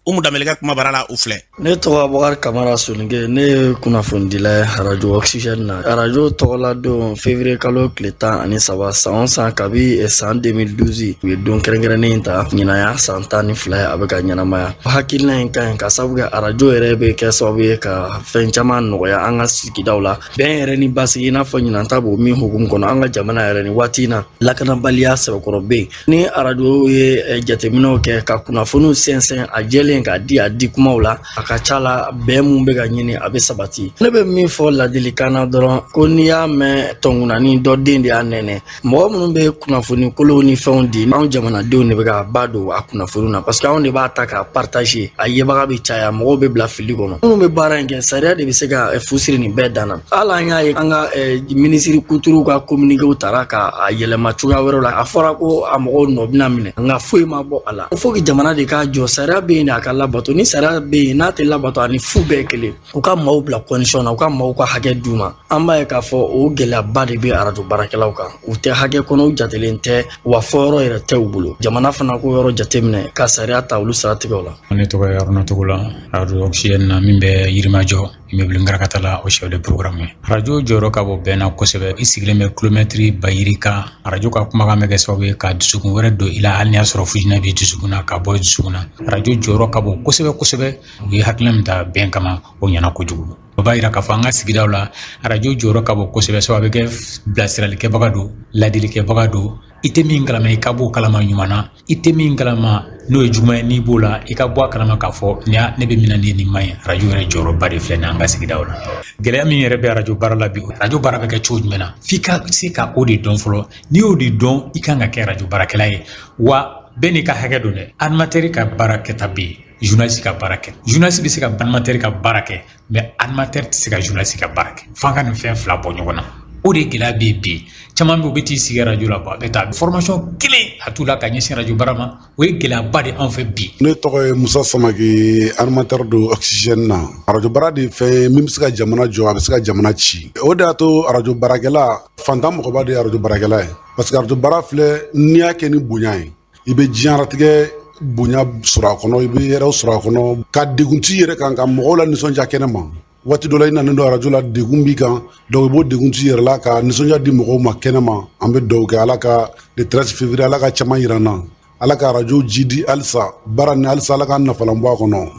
umu danbɛlɛ ka kumabara la u filɛ ne tɔgɔ abubakari kamara soninke ne ye kunnafonidila ye arajo oxygène na arajo tɔgɔladon février kalo tile tan ani saba san san kabi eh, san 2012 u ye don kɛrɛnkɛrɛnnen in ta ɲinan y'a san tan ni fila ye a bɛ ka ɲɛnamaya hakilina in ka ɲi ka sabu kɛ arajo yɛrɛ bɛ kɛ sababu ye ka fɛn caman nɔgɔya an ka sigidaw la bɛn yɛrɛ ni basigi i n'a fɔ ɲinan ta b'o min hukumu kɔnɔ an ka jamana yɛrɛ ni waati in na lakanabaliya sɛbɛkɔrɔ bɛ yen Ni arajo ye jateminɛw kɛ ka kunnafoniw sɛnsɛn a jɛlen k'a di a di kumaw la a ka ca la bɛn min bɛ ka ɲini a bɛ sabati ne bɛ min fɔ ladilikan na dɔrɔn ko n'i y'a mɛn tɔn kunanin don den de y'a nɛnɛ mɔgɔ minnu bɛ kunnafoni kolonw ni fɛnw di anw jamanadenw de bɛ ka ba don a kunnafoni na parce que anw de b'a ta k'a partager a yebaga bɛ caya mɔgɔw bɛ bila fili kɔnɔ minnu bɛ baara in kɛ sariya de bɛ se ka eh, fu siri nin bɛɛ dan na hali an y'a ye an ka eh, minisiri kuturuw ka kominikew tara k'a yɛlɛma cogoya wɛrɛw la a fɔra ko a mɔgɔw nɔ bɛna minɛ nka foyi ma bɔ a la faut que jamana de k'a jɔ sariya bɛ yen de a ka labato ni sariya bɛ yen n'a tɛ labato a ni fu bɛɛ kelen u ka maaw bila condition na u ka maaw ka hakɛ d'u ma an b'a ye k'a fɔ o gɛlɛyaba de bɛ arajo baarakɛlaw kan u tɛ hakɛ kɔnɔ u jatelen tɛ wa fɔ yɔrɔ yɛrɛ tɛ u bolo jamana fana k'o yɔrɔ jateminɛ ka sariya ta olu siratigɛw la ne tɔgɔ ye aruna togola arajo oxygène na min bɛ yirimajɔ immeuble ngarakata la o chef de programme ye arajo jɔyɔrɔ ka bon bɛn na kosɛbɛ i sigilen bɛ kilomɛtiri ba yirika arajo ka kumakan bɛ kɛ sababu ye ka dusukun wɛrɛ don i la hali n'i y'a sɔrɔ fujinɛ bɛ dusukun na k'a bɔ dusukun na arajo jɔyɔrɔ ka bon kosɛbɛ kosɛbɛ u ye hakilina min ta bɛn kama o ɲɛna kojugu O b'a yira k'a fɔ an ka sigidaw la arajo jɔyɔrɔ ka bon kosɛbɛ sabu a bɛ kɛ bilasiralikɛbaga don ladilikɛbaga don i tɛ min kalama i ka bɔ o kalama ɲuman na i tɛ min kalama n'o ye juguman ye n'i b'o la i ka bɔ a kalama k'a fɔ ne bɛ min na nin man ɲi arajo yɛrɛ jɔyɔrɔba de filɛ nin an ka sigidaw la gɛlɛya min yɛrɛ bɛ arajo baara la bi arajo baara bɛ kɛ cogo jumɛn na f'i ka se ka o de dɔn fɔlɔ n'i y'o de dɔn i kan ka kɛ arajo baarakɛla ye wa bɛɛ n'i ka hakɛ don dɛ animateur ka baara kɛta bɛ yen ka baara kɛ journaliste bɛ se ka animateur ka baara kɛ mais animateur tɛ se ka journaliste ka baara kɛ f'an ka nin fɛn fila bɔ ɲɔgɔn na o de gɛlɛya bɛ bi caman bɛ yen u bɛ t'i sigi arajo la a bɛ taa formation kelen a t'u la ka ɲɛsin arajo baara ma o ye gɛlɛyaba de anw fɛ bi ne tɔgɔ ye musa samake animateur don oxygène na arajo baara de fɛn min bɛ se ka jamana jɔ a bɛ se ka jamana ci o de y'a to arajo baarakɛla fantan mɔgɔba de ye arajo baarakɛla ye parce que arajo baara filɛ n'i y'a kɛ ni bonya ye i bɛ diɲɛnatigɛ bonya sɔrɔ a kɔnɔ i bɛ yɛrɛw sɔrɔ a kɔnɔ ka degun t'i yɛrɛ kan ka mɔgɔw lanisɔndiya kɛnɛ ma waati dɔ la i nanen don arajo la degun b'i kan donc i b'o degun t'i yɛrɛ la ka nisɔndiya di mɔgɔw ma kɛnɛ ma an bɛ dugawu kɛ ala ka le 13 février ala k'a caman yira an na ala ka arajo jiidi halisa baara nin halisa ala k'an nafalan bɔ a kɔnɔ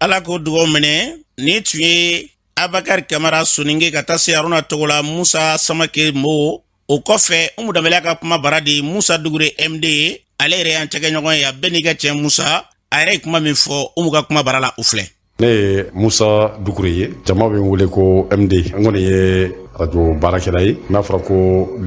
ala k'o dugaw minɛ nin tun ye abubakari kamara soninke ka taa se aruna togola musa samake mo o kɔfɛ umu danbɛlɛ ka kuma bara di musa dugure md ye ale yɛrɛ y'an cɛkɛɲɔgɔn ye a bɛɛ n'i ka cɛ musa a yɛrɛ ye kuma min fɔ umu ka kuma bara la u filɛ ne ye musa dugure ye jama bɛ n wele ko md n kɔni ye arajo baarakɛla ye n'a fɔra ko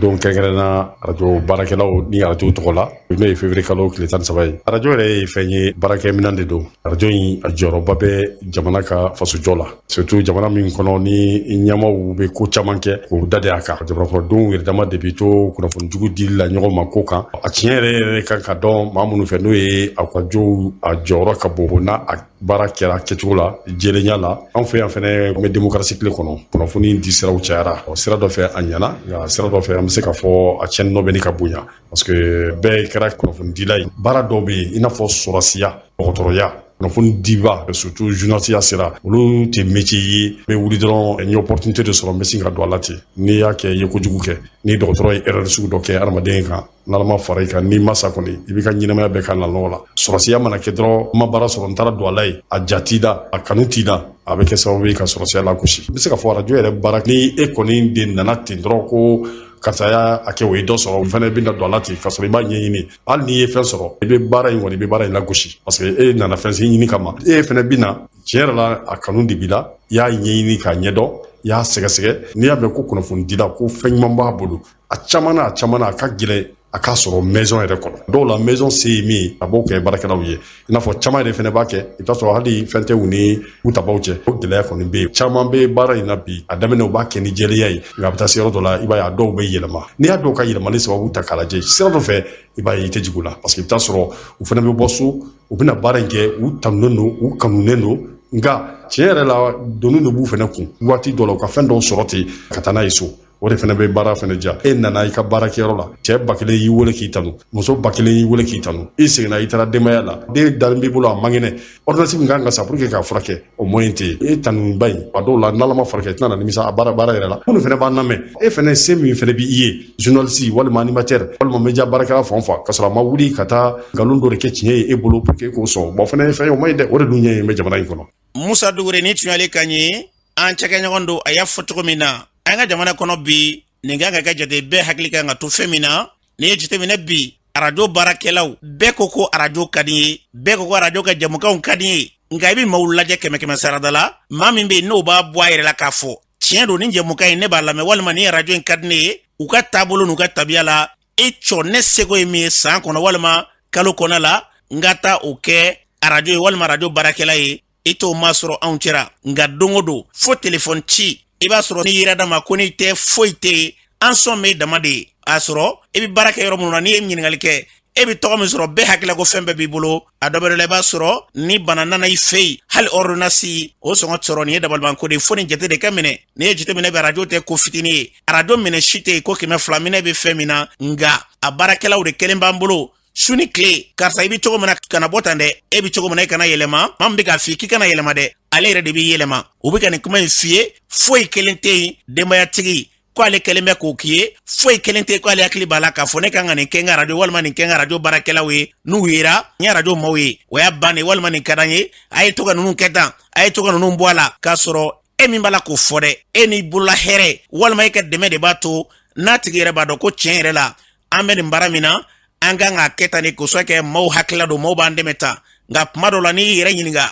don kɛrɛnkɛrɛnna arajo baarakɛlaw ni arajo tɔgɔ la n'o ye février kalo tile tan ni saba ye arajo yɛrɛ ye fɛn ye baarakɛminɛn de don arajo in a jɔyɔrɔba bɛ jamana ka fasojɔ la surtout jamana min kɔnɔ ni ɲɛmaaw bɛ ko caman kɛ k'o da de a kan jamanakɔnɔdenw yɛrɛ dama de bɛ to kunnafoni jugu dili la ɲɔgɔn ma ko kan a tiɲɛ yɛrɛ yɛrɛ kan ka dɔn maa minnu fɛ n'o ye arajow a jɔyɔrɔ ka bon n'a a baara kɛra kɛcogo la jɛlenya la an fɛ yan fɛnɛ an bɛ demokarasi tile kɔnɔ kunnafoni di siraw cayara sira dɔ fɛ a ɲɛna nka sira dɔ fɛ an bɛ se k'a fɔ a tiɲɛni nɔ bɛ ɲini ka bonya Parce que bɛɛ kɛra kunnafonidila ye baara dɔw bɛ yen i n'a fɔ sɔrɔdasiya dɔgɔtɔrɔya kunnafoni diba surtout journaliste ya sira olu tɛ métier ye n bɛ wuli dɔrɔn n ye opportunité de sɔrɔ n bɛ sin ka don a la ten n'i y'a kɛ i ye kojugu kɛ ni dɔgɔtɔrɔ ye erreur sugu dɔ kɛ hadamaden kan n'Ala ma fara i kan n'i ma sa kɔni i b'i ka ɲɛnamaya bɛɛ k'a nɔgɔ la sɔrɔdasiya mana kɛ dɔrɔn n ma baara sɔrɔ n taara don a la yen a diya t'i la a kanu t'i la a bɛ kɛ sababu ye ka sɔrɔdasiya lagosi n bɛ se k'a fɔ arajo yɛrɛ baara ni e kɔni de nana ten dɔrɔn ko karisa y'a kɛ o ye dɔ sɔrɔ o fana bɛna don a la ten k'a sɔrɔ i b'a ɲɛɲini hali n'i ye fɛn sɔrɔ i bɛ baara in kɔni i bɛ baara in lagosi parce que e nana fɛn sen ɲini kama e fana bɛ na tiɲɛ yɛrɛ la a kanu de b'i la i y'a ɲɛɲini k'a ɲɛdɔn i y'a sɛgɛsɛgɛ n'i y'a mɛn ko kunnafonidila ko fɛn ɲuman b'a bolo a caman na a caman na a ka gɛlɛn a k'a sɔrɔ maison yɛrɛ kɔnɔ dɔw la maison se ye min ye a b'o kɛ baarakɛlaw ye i n'a fɔ caman yɛrɛ fɛnɛ b'a kɛ i bɛ t'a sɔrɔ hali fɛn tɛ u ni u tabaw cɛ o gɛlɛya kɔni bɛ yen caman bɛ baara in na bi a daminɛ u b'a kɛ ni jɛlenya ye nka a bɛ taa se yɔrɔ dɔ la i b'a ye a dɔw bɛ yɛlɛma n'i y'a dɔw ka yɛlɛmali sababu ta k'a lajɛ sira dɔ fɛ i b'a ye i tɛ jigin u la parce que i bɛ t'a sɔrɔ u fɛnɛ bɛ bɔ so u bɛna baara in kɛ u tanunen don u kanunen don nka tiɲɛ yɛrɛ la doni de b'u fɛnɛ kun waati dɔ la u ka fɛn dɔw sɔrɔ ten ka taa n'a ye so o de fana bɛ baara fana diya e nana i ka baarakɛyɔrɔ la cɛ ba kelen y'i wele k'i tanu muso ba kelen y'i wele k'i tanu i seginna i taara denbaya la den dalen b'i bolo a man kɛnɛ ordonnance min kan ka san pour que k'a furakɛ o moyen tɛ yen e tanuba in a dɔw la n'ala ma fara i kan i tɛna na nimisa a baara baara yɛrɛ la minnu fana b'an lamɛn e fana se min fana b'i ye journaliste walima animateur walima media baarakɛla fɛn o fɛn k'a sɔrɔ a ma wuli ka taa nkalon dɔ de kɛ tiɲɛ ye e bolo pour que k'o sɔn bon fana ye fɛn ye o man ɲi dɛ o de dun ɲɛ ye bɛ jamana in kɔnɔ musa dugure ni tuyali ka ɲi an cɛkɛɲɔgɔn don a y'a fɔ cogo min na an ka jamana kɔnɔ bi nin kan ka kɛ jate bɛɛ hakili kan ka to fɛn min na n'i y'a jateminɛ bi arajo baarakɛlaw bɛɛ ko ko arajo ka di n ye bɛɛ ko ko arajo ka jɛmukanw ka di n ye nka i bɛ maaw lajɛ kɛmɛ kɛmɛ sarada la maa min bɛ yen n'o b'a bɔ a yɛrɛ la k'a fɔ tiɲɛ don ni jɛmukan in ne b'a lamɛn walima ni arajo in ka di ne ye u ka taabolo n'u ka tabiya la e cɔ ne seko ye min ye san kɔnɔ walima kalo kɔnɔ la n ka taa o kɛ arajo ye walima arajo baarakɛla ye i t'o masɔrɔ anw cɛra nka don o don fo telefɔni ci i b'a sɔrɔ n'i yera dama ko n'i tɛ foyi tɛ yen an sɔn bɛ e dama de ye a sɔrɔ i bɛ baara kɛ yɔrɔ minnu na n'i ye ɲininkali kɛ e bɛ tɔgɔ min sɔrɔ bɛɛ hakilila ko fɛn bɛɛ b'i bolo a dɔ bɛ dɔ la i b'a sɔrɔ ni bana nana i fɛ yen hali ɔridonasi o sɔngɔ sɔrɔ nin ye dabalibanko de ye fo nin jate de ka minɛ n'i ye jate minɛ bɛ arajo tɛ ko fitinin ye arajo minɛn si tɛ yen ko kɛmɛ fila minɛn bɛ fɛn min na nka a baarakɛlaw de kelen b'an bolo su ni kile karisa i be cogo min na kana bɔ tan dɛ e be cogo min na i kana yɛlɛma maa min be k'a f'i k'i kana yɛlɛma dɛ ale yɛrɛ de b'i yɛlɛma u be ka nin kuma ɲi f'i ye foyi kelen tɛ yen denbayatigi ko ale kelen bɛ k'o k'i ye foyi kelen tɛ ko ale hakili b'a la k'a fɔ ne kan ka nin kɛ n ka radio walima nin kɛ n ka radio baarakɛlaw ye n'u yera n ye radio maaw ye o y'a bannen walima nin ka d'an ye a ye to ka ninnu kɛ tan a ye to ka ninnu bɔ a la k'a sɔrɔ e min b'a la k'o fɔ dɛ e n'i bolola hɛrɛ walima e ka dɛmɛ de b'a to n'a tigi yɛrɛ b'a dɔn ko tiɲɛ yɛrɛ la an bɛ nin baara min na an kan k'a kɛ tan de kosɛbɛ kɛ maaw hakilila don maaw b'an dɛmɛ tan nka kuma dɔw la n'i y'i yɛrɛ ɲininka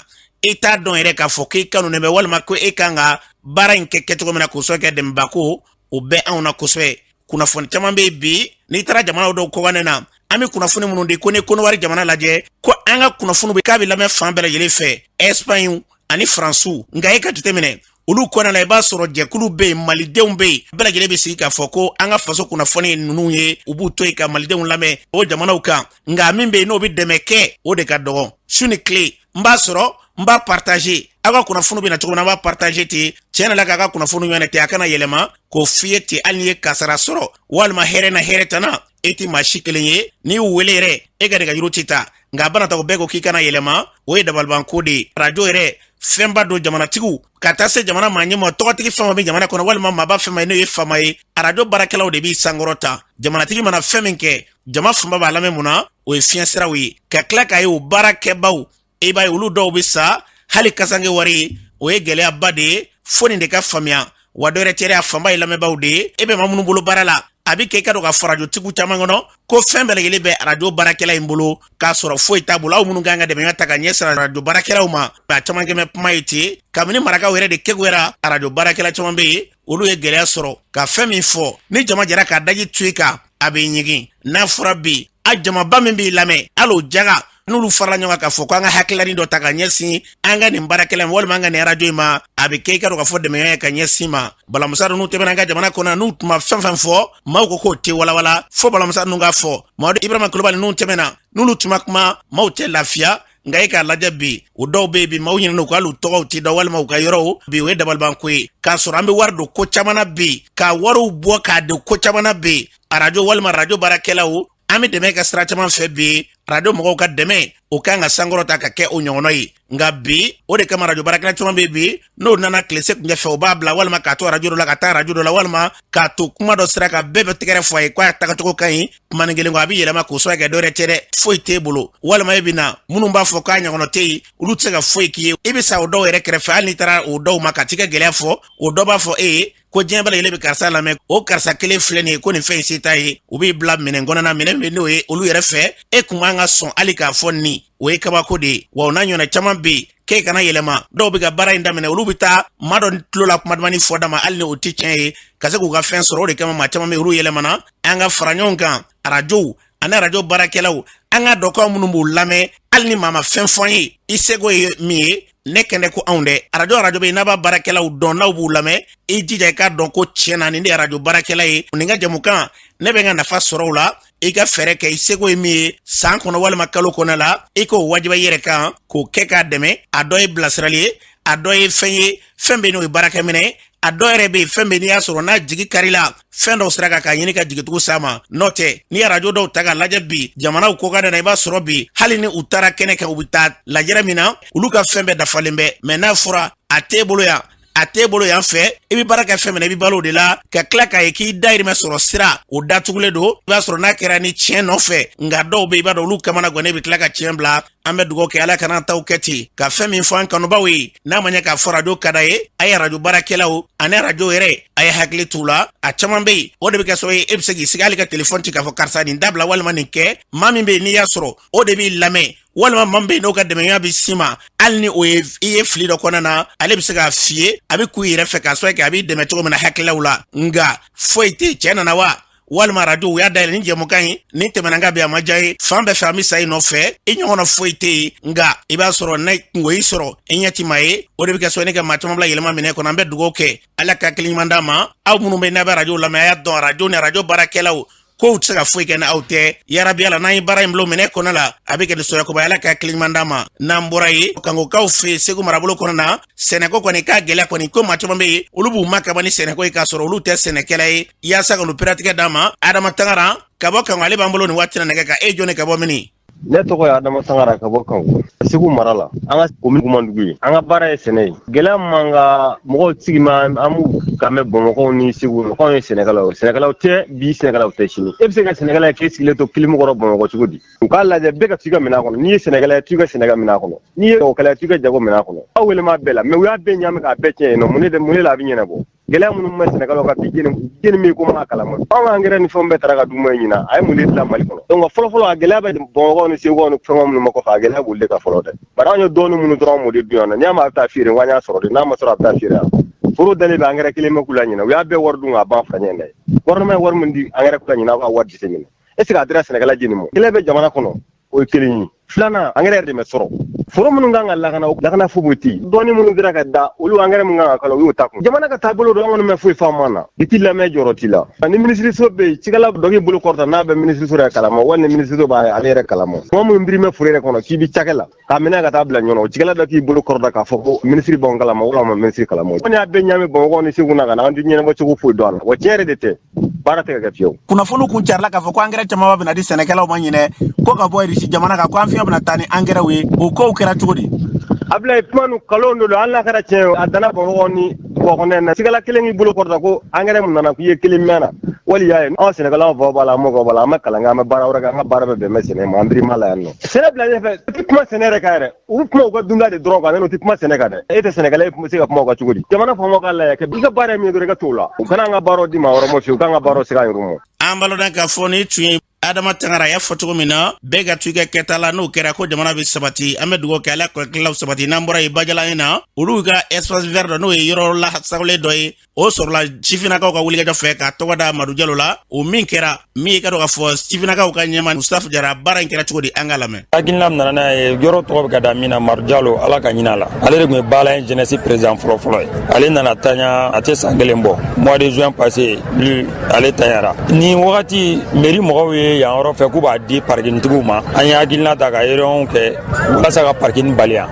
i t'a dɔn yɛrɛ k'a fɔ k'i k'anw dɛmɛ walima ko e kan ka baara in kɛ kɛcogo min na kosɛbɛ kɛ dɛmɛbako o bɛ anw na kosɛbɛ kunnafoni caman bɛ yen bi n'i taara jamana dɔw kɔkanɛ na an bɛ kunnafoni minnu di ko ni kɔnɔwari jamana lajɛ ko an ka kunnafoni bɛ k'a bɛ lamɛn fan bɛɛ lajɛlen fɛ ɛsipaɲi ani faransiw nka e ka jateminɛ olu kɔnɔna la i b'a sɔrɔ jɛkulu bɛ yen malidenw bɛ yen bɛɛ lajɛlen bɛ sigi k'a fɔ ko an ka faso kunnafoni ye ninnu ye u b'u to yen ka malidenw lamɛn o jamanaw kan nka min bɛ yen n'o bɛ dɛmɛ kɛ o de ka dɔgɔn su ni tile n b'a sɔrɔ n b'a partager aw ka kunnafoni bɛ na cogo min na n b'a partager ten tiɲɛ na la k'a ka kunnafoni ɲɔgɔn tɛ a kana yɛlɛma k'o f'i ye ten hali n'i ye kasara sɔrɔ walima hɛrɛ na hɛrɛ tana e tɛ maa si kelen ye n'i y'u wele yɛrɛ e ka nɛgɛjuru tɛ ta nka a bana ta o bɛɛ ko k'i kana yɛlɛma o ye dabalibanko de ye arajo yɛrɛ fɛnba don jamanatigiw ka taa se jamana maa ɲɛma tɔgɔtigi fɛn o bɛ jamana kɔnɔ walima maaba fɛn ma ye n'o ye faama ye arajo baarakɛlaw de b'i sankɔrɔta jamanatigi mana fɛn min kɛ jama fanba b'a lamɛn mun na o ye fiɲɛ siraw ye ka tila k'a ye o baara kɛbaw i b'a ye olu dɔw bɛ sa hali kasanke wari o ye gɛlɛyaba de ye fo nin de ka faamuya wa dɔ yɛrɛ tɛ a fanba ye lamɛnbaaw de ye e bɛ maa minnu bolo baara la a bɛ kɛ i k'a dɔn k'a fɔ arajotigiw caman kɔnɔ ko fɛn bɛɛ lajɛlen bɛ arajo baarakɛla in bolo k'a sɔrɔ foyi t'a bolo aw minnu kan ka dɛmɛ ta ka ɲɛsin arajo baarakɛlaw ma a caman kɛmɛ kuma ye ten kabini marakaw yɛrɛ de keguyara arajo baarakɛla caman bɛ yen olu ye gɛlɛya sɔrɔ ka fɛn min fɔ ni jama jɛra k'a daji to i kan a bɛ ɲigin n'a fɔra bi a jamaba min b'i lamɛn hali o jaga n'olu farala ɲɔgɔn kan k'a fɔ ko an ka hakililani dɔ ta ka ɲɛsin an ka nin baarakɛla ma walima an ka nin arajo in ma a bɛ kɛ i k'a dɔn k'a fɔ dɛmɛya ye ka ɲɛsin ma balamusa ninnu tɛmɛna an ka jamana kɔnɔ n'u tun ma fɛn fɛn fɔ maaw ko k'o tɛ walawala fo balamusa ninnu k'a fɔ mamadu ibrahima kulubali ninnu tɛmɛna n'olu tun ma kuma maaw tɛ lafiya nka e k'a lajɛ bi u dɔw be yen bi maaw ɲinɛna u kɔ hali u tɔgɔw ti dɔn walima u ka yɔrɔw bi o ye dabalibanko ye k'a sɔrɔ an be wari don ko caman na bi ka wariw bɔ k'a don ko caman na bi arajo walima arajo baarakɛlaw an be dɛmɛ kɛ sira caman fɛ bi arajo mɔgɔw ka dɛmɛ o kan ka sankɔrɔta ka kɛ o ɲɔgɔnɔ ye nka bi o de kama arajo baarakɛla caman be bi n'o nana tilesekuncɛ fɛ o b'a bila walima k'a to arajo dɔ la ka taa arajo dɔ la walima k'a to kuma dɔ sira kan bɛɛ bɛ tɛgɛrɛ fɔ a ye k'a tagacogo ka ɲi kumanin kelen kɔ a bɛ yɛlɛma k'o sɔrɔ kɛ dɔ wɛrɛ tɛ dɛ foyi t'e bolo walima e bɛ na minnu b'a fɔ k'a ɲɔgɔnɔ tɛ yen olu tɛ se ka foyi k'i ye i bɛ sa o dɔw yɛrɛ kɛrɛfɛ hali n'i taara o dɔw ma ka t'i ka gɛlɛya fɔ o dɔ b'a fɔ e ye ko diɲɛ bɛɛ lajɛlen bɛ karisa lamɛn o karisa kelen filɛ nin ye ko nin fɛn in se t'a ye u b'i bila minɛn kɔnɔna minɛn bɛ n'o ye olu yɛrɛ fɛ e kun man kan ka sɔn hali k'a fɔ nin o ye kabako de ye wa o n'a ɲɔgɔnna caman bɛ yen k'e kana yɛlɛma dɔw bɛ ka baara in daminɛ olu bɛ taa maa dɔ tulo la kuma dumanni fɔ dama hali ni o tɛ tiɲɛ ye ka se k'u ka fɛn sɔrɔ o de kama maa caman bɛ olu yɛlɛmana an ka fara ɲɔgɔn kan arajow ani arajo baarakɛlaw an ka dɔkaw minnu b'u lamɛn hali ni maa ma fɛn fɔ an ye i seko ye min ye ne kɛnɛ ko anw dɛ arajo arajo bɛ n'a b'a baarakɛlaw dɔn n'aw b'u lamɛn i jija i k'a dɔn ko tiɲɛ na nin de arajo baarakɛla ye nin ka jɛmukan ne bɛ n ka nafa sɔrɔ o la i ka fɛɛrɛ kɛ i seko ye min ye san kɔnɔ walima kalo kɔnɔ la i k'o wajiba i yɛrɛ kan k'o kɛ k'a dɛmɛ a dɔ ye bilasirali ye a dɔ ye fɛn ye fɛn be n'o ye baarakɛminɛ a dɔ yɛrɛ be fɛn be n'i y'a sɔrɔ n'a jigi karila fɛn dɔw sira kan k'a ɲini ka jigitugu sa ma n'o tɛ n'i ye arajo dɔw ta k'a lajɛ bi jamanaw kɔkanna na i b'a sɔrɔ bi hali ni u taara kɛnɛ kan u be taa lajɛrɛ min na olu ka fɛn bɛɛ dafalen bɛ mɛn n'a fɔra a t'e bolo yan a t'e bolo yan fɛ i bɛ baara kɛ fɛn min na i bɛ balo o de la ka tila k'a ye k'i dayirimɛ sɔrɔ sira o datugulen don i b'a sɔrɔ n'a kɛra ni tiɲɛ nɔfɛ nka dɔw bɛ i b'a dɔn olu kamanagannen bɛ tila ka tiɲɛ bila an bɛ dugawu kɛ ala kan'an taw kɛ ten ka fɛn min fɔ an kanubaw ye n'a ma ɲɛ k'a fɔ arajo ka da yen a ye arajo baarakɛlaw ani arajo yɛrɛ a ye hakili t'u la a caman bɛ yen o de bɛ kɛ sababu ye e bɛ se k'i sigi hali ka telefɔni ci k'a fɔ karisa nin dabila walima nin kɛ maa min bɛ yen n'i y'a sɔrɔ o de b'i lamɛn walima maa min bɛ yen n'o ka dɛmɛya bɛ s'i ma hali ni o ye i ye fili dɔ kɔnɔna na ale bɛ se k'a f'i ye a bɛ k'i yɛrɛ fɛ k'a sɔrɔ kɛ a b'i dɛmɛ cogo min na hakililaw la nka foyi tɛ cɛ nana wa walima arajo u y'a dayɛlɛ ni jɛmukan ye ni tɛmɛna ka bɛn a ma diya ye fan bɛɛ fɛ an bɛ sa i nɔfɛ i ɲɔgɔnna foyi tɛ yen nka i b'a sɔrɔ n'a kunko y'i sɔrɔ i ɲɛ ti maa ye o de bɛ kɛ sababu ye ka maa caman bila yɛlɛma minɛ kɔnɔ an bɛ dugawu kɛ ala ka hakili ɲuman d'a ma aw minnu bɛ n'a bɛ arajo lamɛn a y'a dɔn arajo ni arajo baarakɛlaw kow tɛ se ka foyi kɛ ni aw tɛ yarabi ala n'an ye baara in bolo minɛ kɔnɔ la a bɛ kɛ nisɔndiyakoba ye ala ka hakili ɲuman d'a ma n'an bɔra yen kangokaw fɛ segu marabolo kɔnɔ na sɛnɛko kɔni ka gɛlɛya kɔni ko maa caman bɛ yen olu b'u ma kaba ni sɛnɛko ye k'a sɔrɔ olu tɛ sɛnɛkɛla ye yaasa ka olu peratigɛ d'a ma adama tangara ka bɔ kango ale b'an bolo nin waati na nɛgɛ kan e jɔni ka bɔ mini ne tɔgɔ ye adama sangara ka bɔ kan segu mara la an ka komini kamiyandugu ye an ka baara ye sɛnɛ ye gɛlɛya man ka mɔgɔw sigi ma an b'u kan mɛn bamakɔ ni segu mɔgɔw ye sɛnɛkɛlaw o sɛnɛkɛlaw tɛ bi sɛnɛkɛlaw tɛ sini e bɛ se ka sɛnɛkɛla ye k'i sigilen to kilimu kɔrɔ bamakɔ cogo di u k'a lajɛ bɛɛ ka t'i ka minɛn kɔnɔ n'i ye sɛnɛkɛla ye t'i ka sɛnɛkɛ minɛn kɔnɔ n'i ye jagokɛla ye t'i ka jago minɛn kɔnɔ aw weele bɛɛ la mɛ u y'a bɛɛ ɲami k'a bɛɛ tiɲɛ yen mun mun de la a bɛ ɲɛnabɔ gɛlɛya minnu bɛ sɛnɛkɛlaw kan bi jeni jeni min ko ma kalama anw ka angɛrɛ ni fɛnw bɛɛ tara ka d'u ma ɲina a ye mun de dilan mali kɔnɔ donc fɔlɔfɔlɔ a gɛlɛya bɛ bamakɔ ni segukaw ni fɛnw minnu ma kɔfɛ a gɛlɛya b'olu de kan fɔlɔ dɛ bari anw ye dɔɔni minnu sɔrɔ an m'o de dun yan nɔ n'i y'a mɛn a bɛ taa feere wa an y'a sɔrɔ de n'a ma sɔrɔ a bɛ taa feere yan foro dalen bɛ angɛrɛ kelen bɛ ko la ɲina u y'a bɛɛ wari dun k'a ban fa ɲɛ dɛ gouvernement ye wari min di angɛrɛ ko la ɲina aw ka wari jate minɛ est ce que a dira sɛnɛkɛla jeni ma kelen pe jamana kɔnɔ o ye kelen ye filanan angɛrɛ yɛrɛ de bɛ sɔrɔ foro minnu kan ka lakana o lakana foyi tɛ yen dɔɔni minnu dira ka da olu angɛrɛ minnu kan ka kala u y'o ta kun jamana ka taabolo don an kɔni ma foyi faamu a la i t'i lamɛn jɔyɔrɔ t'i la ni minisiriso bɛ yen cikɛla dɔ k'i bolo kɔrɔta n'a bɛ minisiriso yɛrɛ kalama wali ni minisiriso b'a ale yɛrɛ kalama kuma minnu biri bɛ foro yɛrɛ kɔnɔ k'i bɛ cikɛ la k'a minɛ ka taa bila ɲɔgɔn o cikɛla dɔ k'i bolo kɔrɔta k'a fɔ ko minisiri b'an kalama walima minisiri kalama kɔni y'a bɛɛ ɲami bamakɔ ni segu na ka na an tɛ ɲɛnabɔ cogo foyi dɔn a la wa tiɲɛ yɛrɛ de tɛ baara tɛ ka kɛ fiyewu kunnafoni kun carila k'a fɔ ko angɛrɛ camanba bɛna di sɛnɛkɛlaw ma ɲinɛ ko ka bɔ irisi jamana kan ko an fiɲɛ bɛna taa ni angɛrɛw ye o kow kɛra cogo di abilayi kuma nu nkalon de don hali n'a kɛra tiɲɛ ye a danna bamakɔ ni bɔkɔnɛ na cikɛla kelen k'i bolo kɔrɔta ko angɛrɛ min nana k'i ye kelen mɛn na wali y'a ye anw sɛnɛkɛlaw fɔ b'a la an mɔgɔ b'a la an bɛ kalan kɛ an bɛ baara wɛrɛ kɛ an ka baara bɛ bɛn bɛ sɛnɛ ma an biri ma la yan nɔ sɛnɛ bila ɲɛfɛ u tɛ kuma sɛnɛ yɛrɛ kan yɛrɛ U bɛ kuma u ka dunta de dɔrɔn kan u tɛ kuma sɛnɛ kan dɛ e tɛ sɛnɛ kɛ e tun bɛ se ka kuma o kan cogo di jamana faamaw k'a lajɛ bɛɛ ka baara ye min ye i ka t'o la u kana an ka baara di maa wɛrɛ ma fiyewu u k'an ka baara segin an yɛrɛ ma an balo k'a fɔ nin tun ye adama tangara y'a fɔ cogo min na bɛɛ ka to i ka kɛta la n'o kɛra ko jamana bɛ sabati an bɛ dugawu kɛ ala kɔlɔtilaw sabati n'an bɔra yen bajalan 1 na olu ka espace vert dɔ n'o ye yɔrɔ lasagolen dɔ ye o sɔrɔla sifinnakaw ka wulikajɔ fɛ k'a tɔgɔ da madu jalo la o min kɛra min ye k'a dɔn k'a fɔ sifinnakaw ka ɲɛmaa musitafa jara baara in kɛra cogo di an k'a lamɛn hakilina min nana n'a ye yɔrɔ tɔgɔ bɛ ka da min na madu jalo ala ka hin'a la ale de tun ye baala 1 jeunesse président fɔlɔfɔlɔ ye ale nana tanya a tɛ san kelen bɔ mois de juin passé lu ale tanyara ni wagati meri mɔgɔw ye yan yɔrɔ fɛ k'u b'a di parikinitigiw ma an ye hakilina ta ka réunion kɛ walasa ka parikini bali yan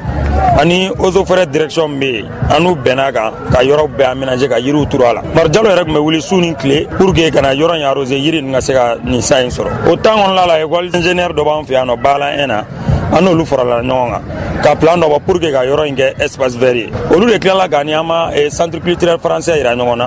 ani eaux et forêts direction bɛ yen an n'u bɛnna a kan ka yɔrɔ bɛɛ aménager ka yiriw turu a la madu jalo yɛrɛ tun bɛ wuli su ni tile pour que ka na yɔrɔ in arroser yiri nin ka se ka nin sa in sɔrɔ o temps kɔnɔla la école ingénieur dɔ b'an fɛ yan nɔ baala 1 na an n'olu farala ɲɔgɔn kan ka plan dɔ bɔ pour que ka yɔrɔ in kɛ espace vert ye olu de tilala k'an ni an ma centre culturel français yira ɲɔgɔn na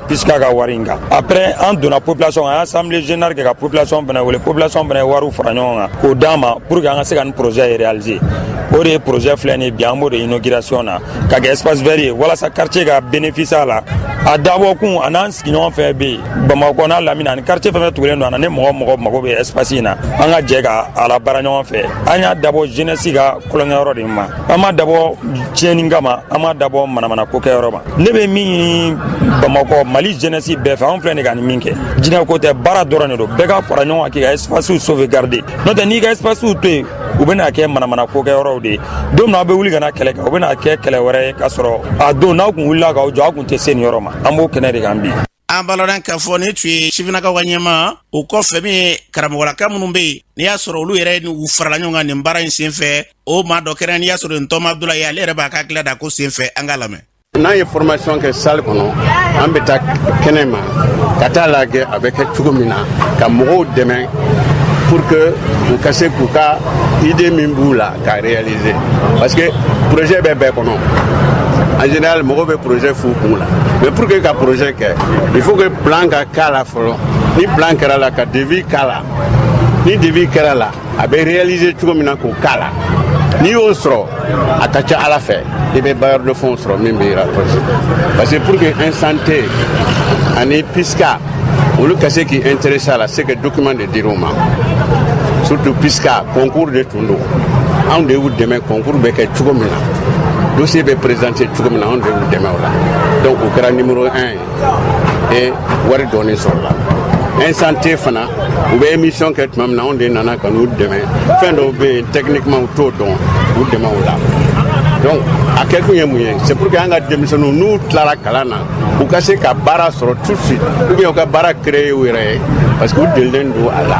Pisca ka wari in kan après an donna population an ye assemblée générale kɛ ka population fana wele population fana ye wari fara ɲɔgɔn kan k'o d'an ma pour que an ka se ka nin projet in réaliser o de ye projet filɛ nin bi an b'o de inauguration na ka kɛ espace vert ye walasa quartier ka bénéficier a la a dabɔkun a n'an sigiɲɔgɔn fɛn bɛ yen bamakɔ n'a lamini ani quartier fɛn tugulen don an na ni mɔgɔ mɔgɔ mago bɛ espace in na an ka jɛ k'a labaara ɲɔgɔn fɛ an y'a dabɔ jeunesse ka tulonkɛyɔrɔ de ma an m'a dabɔ tiɲɛni kama an m'a dabɔ manamana ko kɛyɔrɔ ma ne bɛ min ɲini bamakɔ mali jeunesse bɛɛ fɛ anw filɛ nin ka nin min kɛ jinɛ ko tɛ baara dɔrɔn de don bɛɛ ka fara ɲɔgɔn kan k'i ka espacew sauvegarder n'o tɛ n'i ka espacew to yen u bɛna kɛ manamana ko kɛ yɔrɔw de ye don min na aw bɛ wuli ka na kɛlɛ kɛ o bɛna kɛ kɛlɛ wɛrɛ ye k'a sɔrɔ a don n'aw kun wulila k'aw jɔ a kun tɛ se nin yɔrɔ ma an b'o kɛnɛ de kan bi an b'a ladɔn k'a fɔ nin tun ye sifinnakaw ka ɲɛmaa o kɔfɛ min ye karamɔgɔlaka minnu bɛ yen n'i y'a sɔrɔ olu yɛrɛ u farala ɲɔgɔn kan nin baara in senfɛ o maa dɔ kɛra n'i y'a sɔrɔ ne tɔma abdulaye ale yɛrɛ b'a ka hakila da ko senfɛ an k'a lamɛn n'an ye formation kɛ salle kɔnɔ an bɛ taa kɛnɛ ma ka t'a lajɛ a bɛ kɛ cogo min na ka mɔgɔw dɛmɛ pour que u ka se k'u ka idée min b'u la Ka réaliser parce que projet bɛ bɛɛ kɔnɔ en général mɔgɔw bɛ projet f'u kun la mais pour que ka projet kɛ il faut que plan ka k'a la fɔlɔ ni plan kɛra la ka devis k'a la ni devis kɛra la a bɛ réaliser cogo min na k'o k'a la n'i y'o sɔrɔ a ka ca ala fɛ i bɛ bailleur de fonds sɔrɔ min b'i rapprocher parce que pour que un santé ani pisca olu ka se k'i intéresser a la c'est que document de dir'u ma surtout pisca concours de tun don anw de y'u dɛmɛ concours bɛ kɛ cogo min na dossier bɛ présenter cogo min na anw de y'u dɛmɛ o la donc u kɛra numéro un ye et wari dɔɔni sɔrɔla un santé fana u bɛ émission kɛ tuma min na anw de nana ka n'u dɛmɛ fɛn dɔw bɛ yen techniquement u t'o dɔn u dɛmɛ o la donc a kɛ kun ye mun ye c'est pour que an ka denmisɛnninw n'u tilara kalan na u ka se ka baara sɔrɔ tout de suite ou bien u ka baara créer u yɛrɛ ye parce que u delilen don a la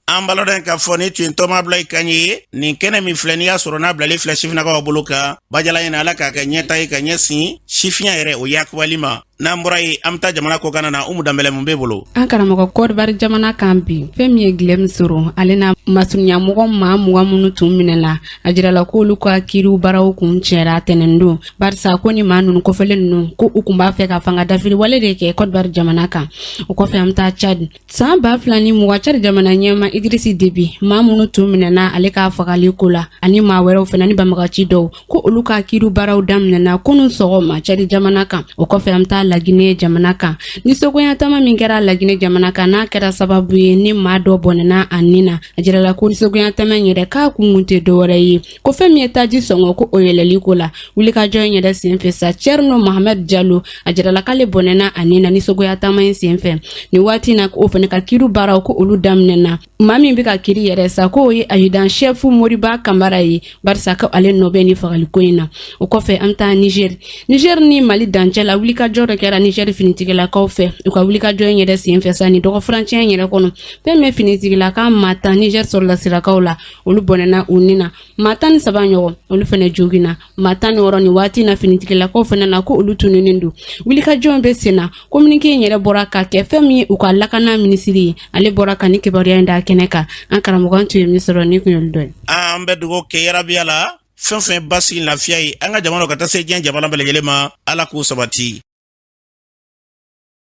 an b'a ladɔn k'a fɔ nin tun ye n tɔma abdulaye kan ye nin kɛnɛ min filɛ n'i y'a sɔrɔ n'a bilalen filɛ sifinnakaw bolo kan bajala ɲɛna ala k'a kɛ ɲɛtaa ye ka ɲɛsin sifinya yɛrɛ o yakubali ma n'an bɔra yen an bɛ taa jamana kɔkanna umu danbɛlɛ mun b'e bolo an karamɔgɔ kɔdiwari jamana kan bi fɛn min ye guillaume soro ale n'a masurunyamɔgɔ maa mugan minnu tun minɛna a jirala k'olu ka kiiri baaraw kuncɛra tɛnɛndon barisa ko ni maa ninnu kofɔlen ninnu ko u kun b'a fɛ ka fanga dafiri wale de kɛ kɔdiwari jamana kan o kɔfɛ an taa cad san ba fila ni mugan cad jamana ɲɛmaa idrisi debi maa minnu tun minɛna ale ka fagali ko la ani maa wɛrɛw fana ni banbaganci dɔw ko olu ka kiiri baaraw daminɛna kunu sɔgɔma cad jamana kan o kɔfɛ an taa lagine jamana kan nisɔngoya taama min kɛra lagine jamana kan n'a kɛra sababu ye ni maa dɔ bɔnɛna a ni na a jirala ko nisɔngoya taama yɛrɛ k'a kun kun tɛ dɔwɛrɛ ye ko fɛn min ye taji sɔngɔ ko o yɛlɛli ko la wulikajɔ in yɛrɛ senfɛ sa cɛrino mahamad jalo a jirala k'ale bɔnɛna a ni na nisɔngoya taama in senfɛ nin waati na o fana ka kiiri baaraw ko olu daminɛna maa min bɛ ka kiiri yɛrɛ sa k'o ye ajidan shɛfu moriba kamara ye barisa ko ale nɔ bɛ nin fagaliko in na o kɔfɛ an bɛ taa niger niger ni mali dancɛ la wulikajɔ dɔ kɛra niger finitigilakaw fɛ u ka wulikajɔ in yɛrɛ senfɛ sa nin dɔgɔfurancɛ in yɛrɛ kɔnɔ fɛn min finitigilaka maa tan niger sɔrɔdasilakaw la olu bɔnɛna u ni na maa tan ni saba ɲɔgɔn olu fɛnɛ joginna maa tan ni wɔrɔ nin waati na finitigilakaw fɛnɛ na ko olu tununnen don wulikajɔ in bɛ sen na kominike in yɛrɛ bɔra ka kɛ fɛn min ye u ka lakana minisiri ye ale bɔra ka nin kibaruya in da kɛnɛ kan an karamɔgɔ an tun ye min sɔrɔ nin kun y'olu dɔ ye an bɛ dugawu kɛ ya rabi ala fɛn fɛn basigi lafiya ye an ka jamana ka taa se diɲɛ jamana bɛɛ lajɛlen ma ala k'o sabati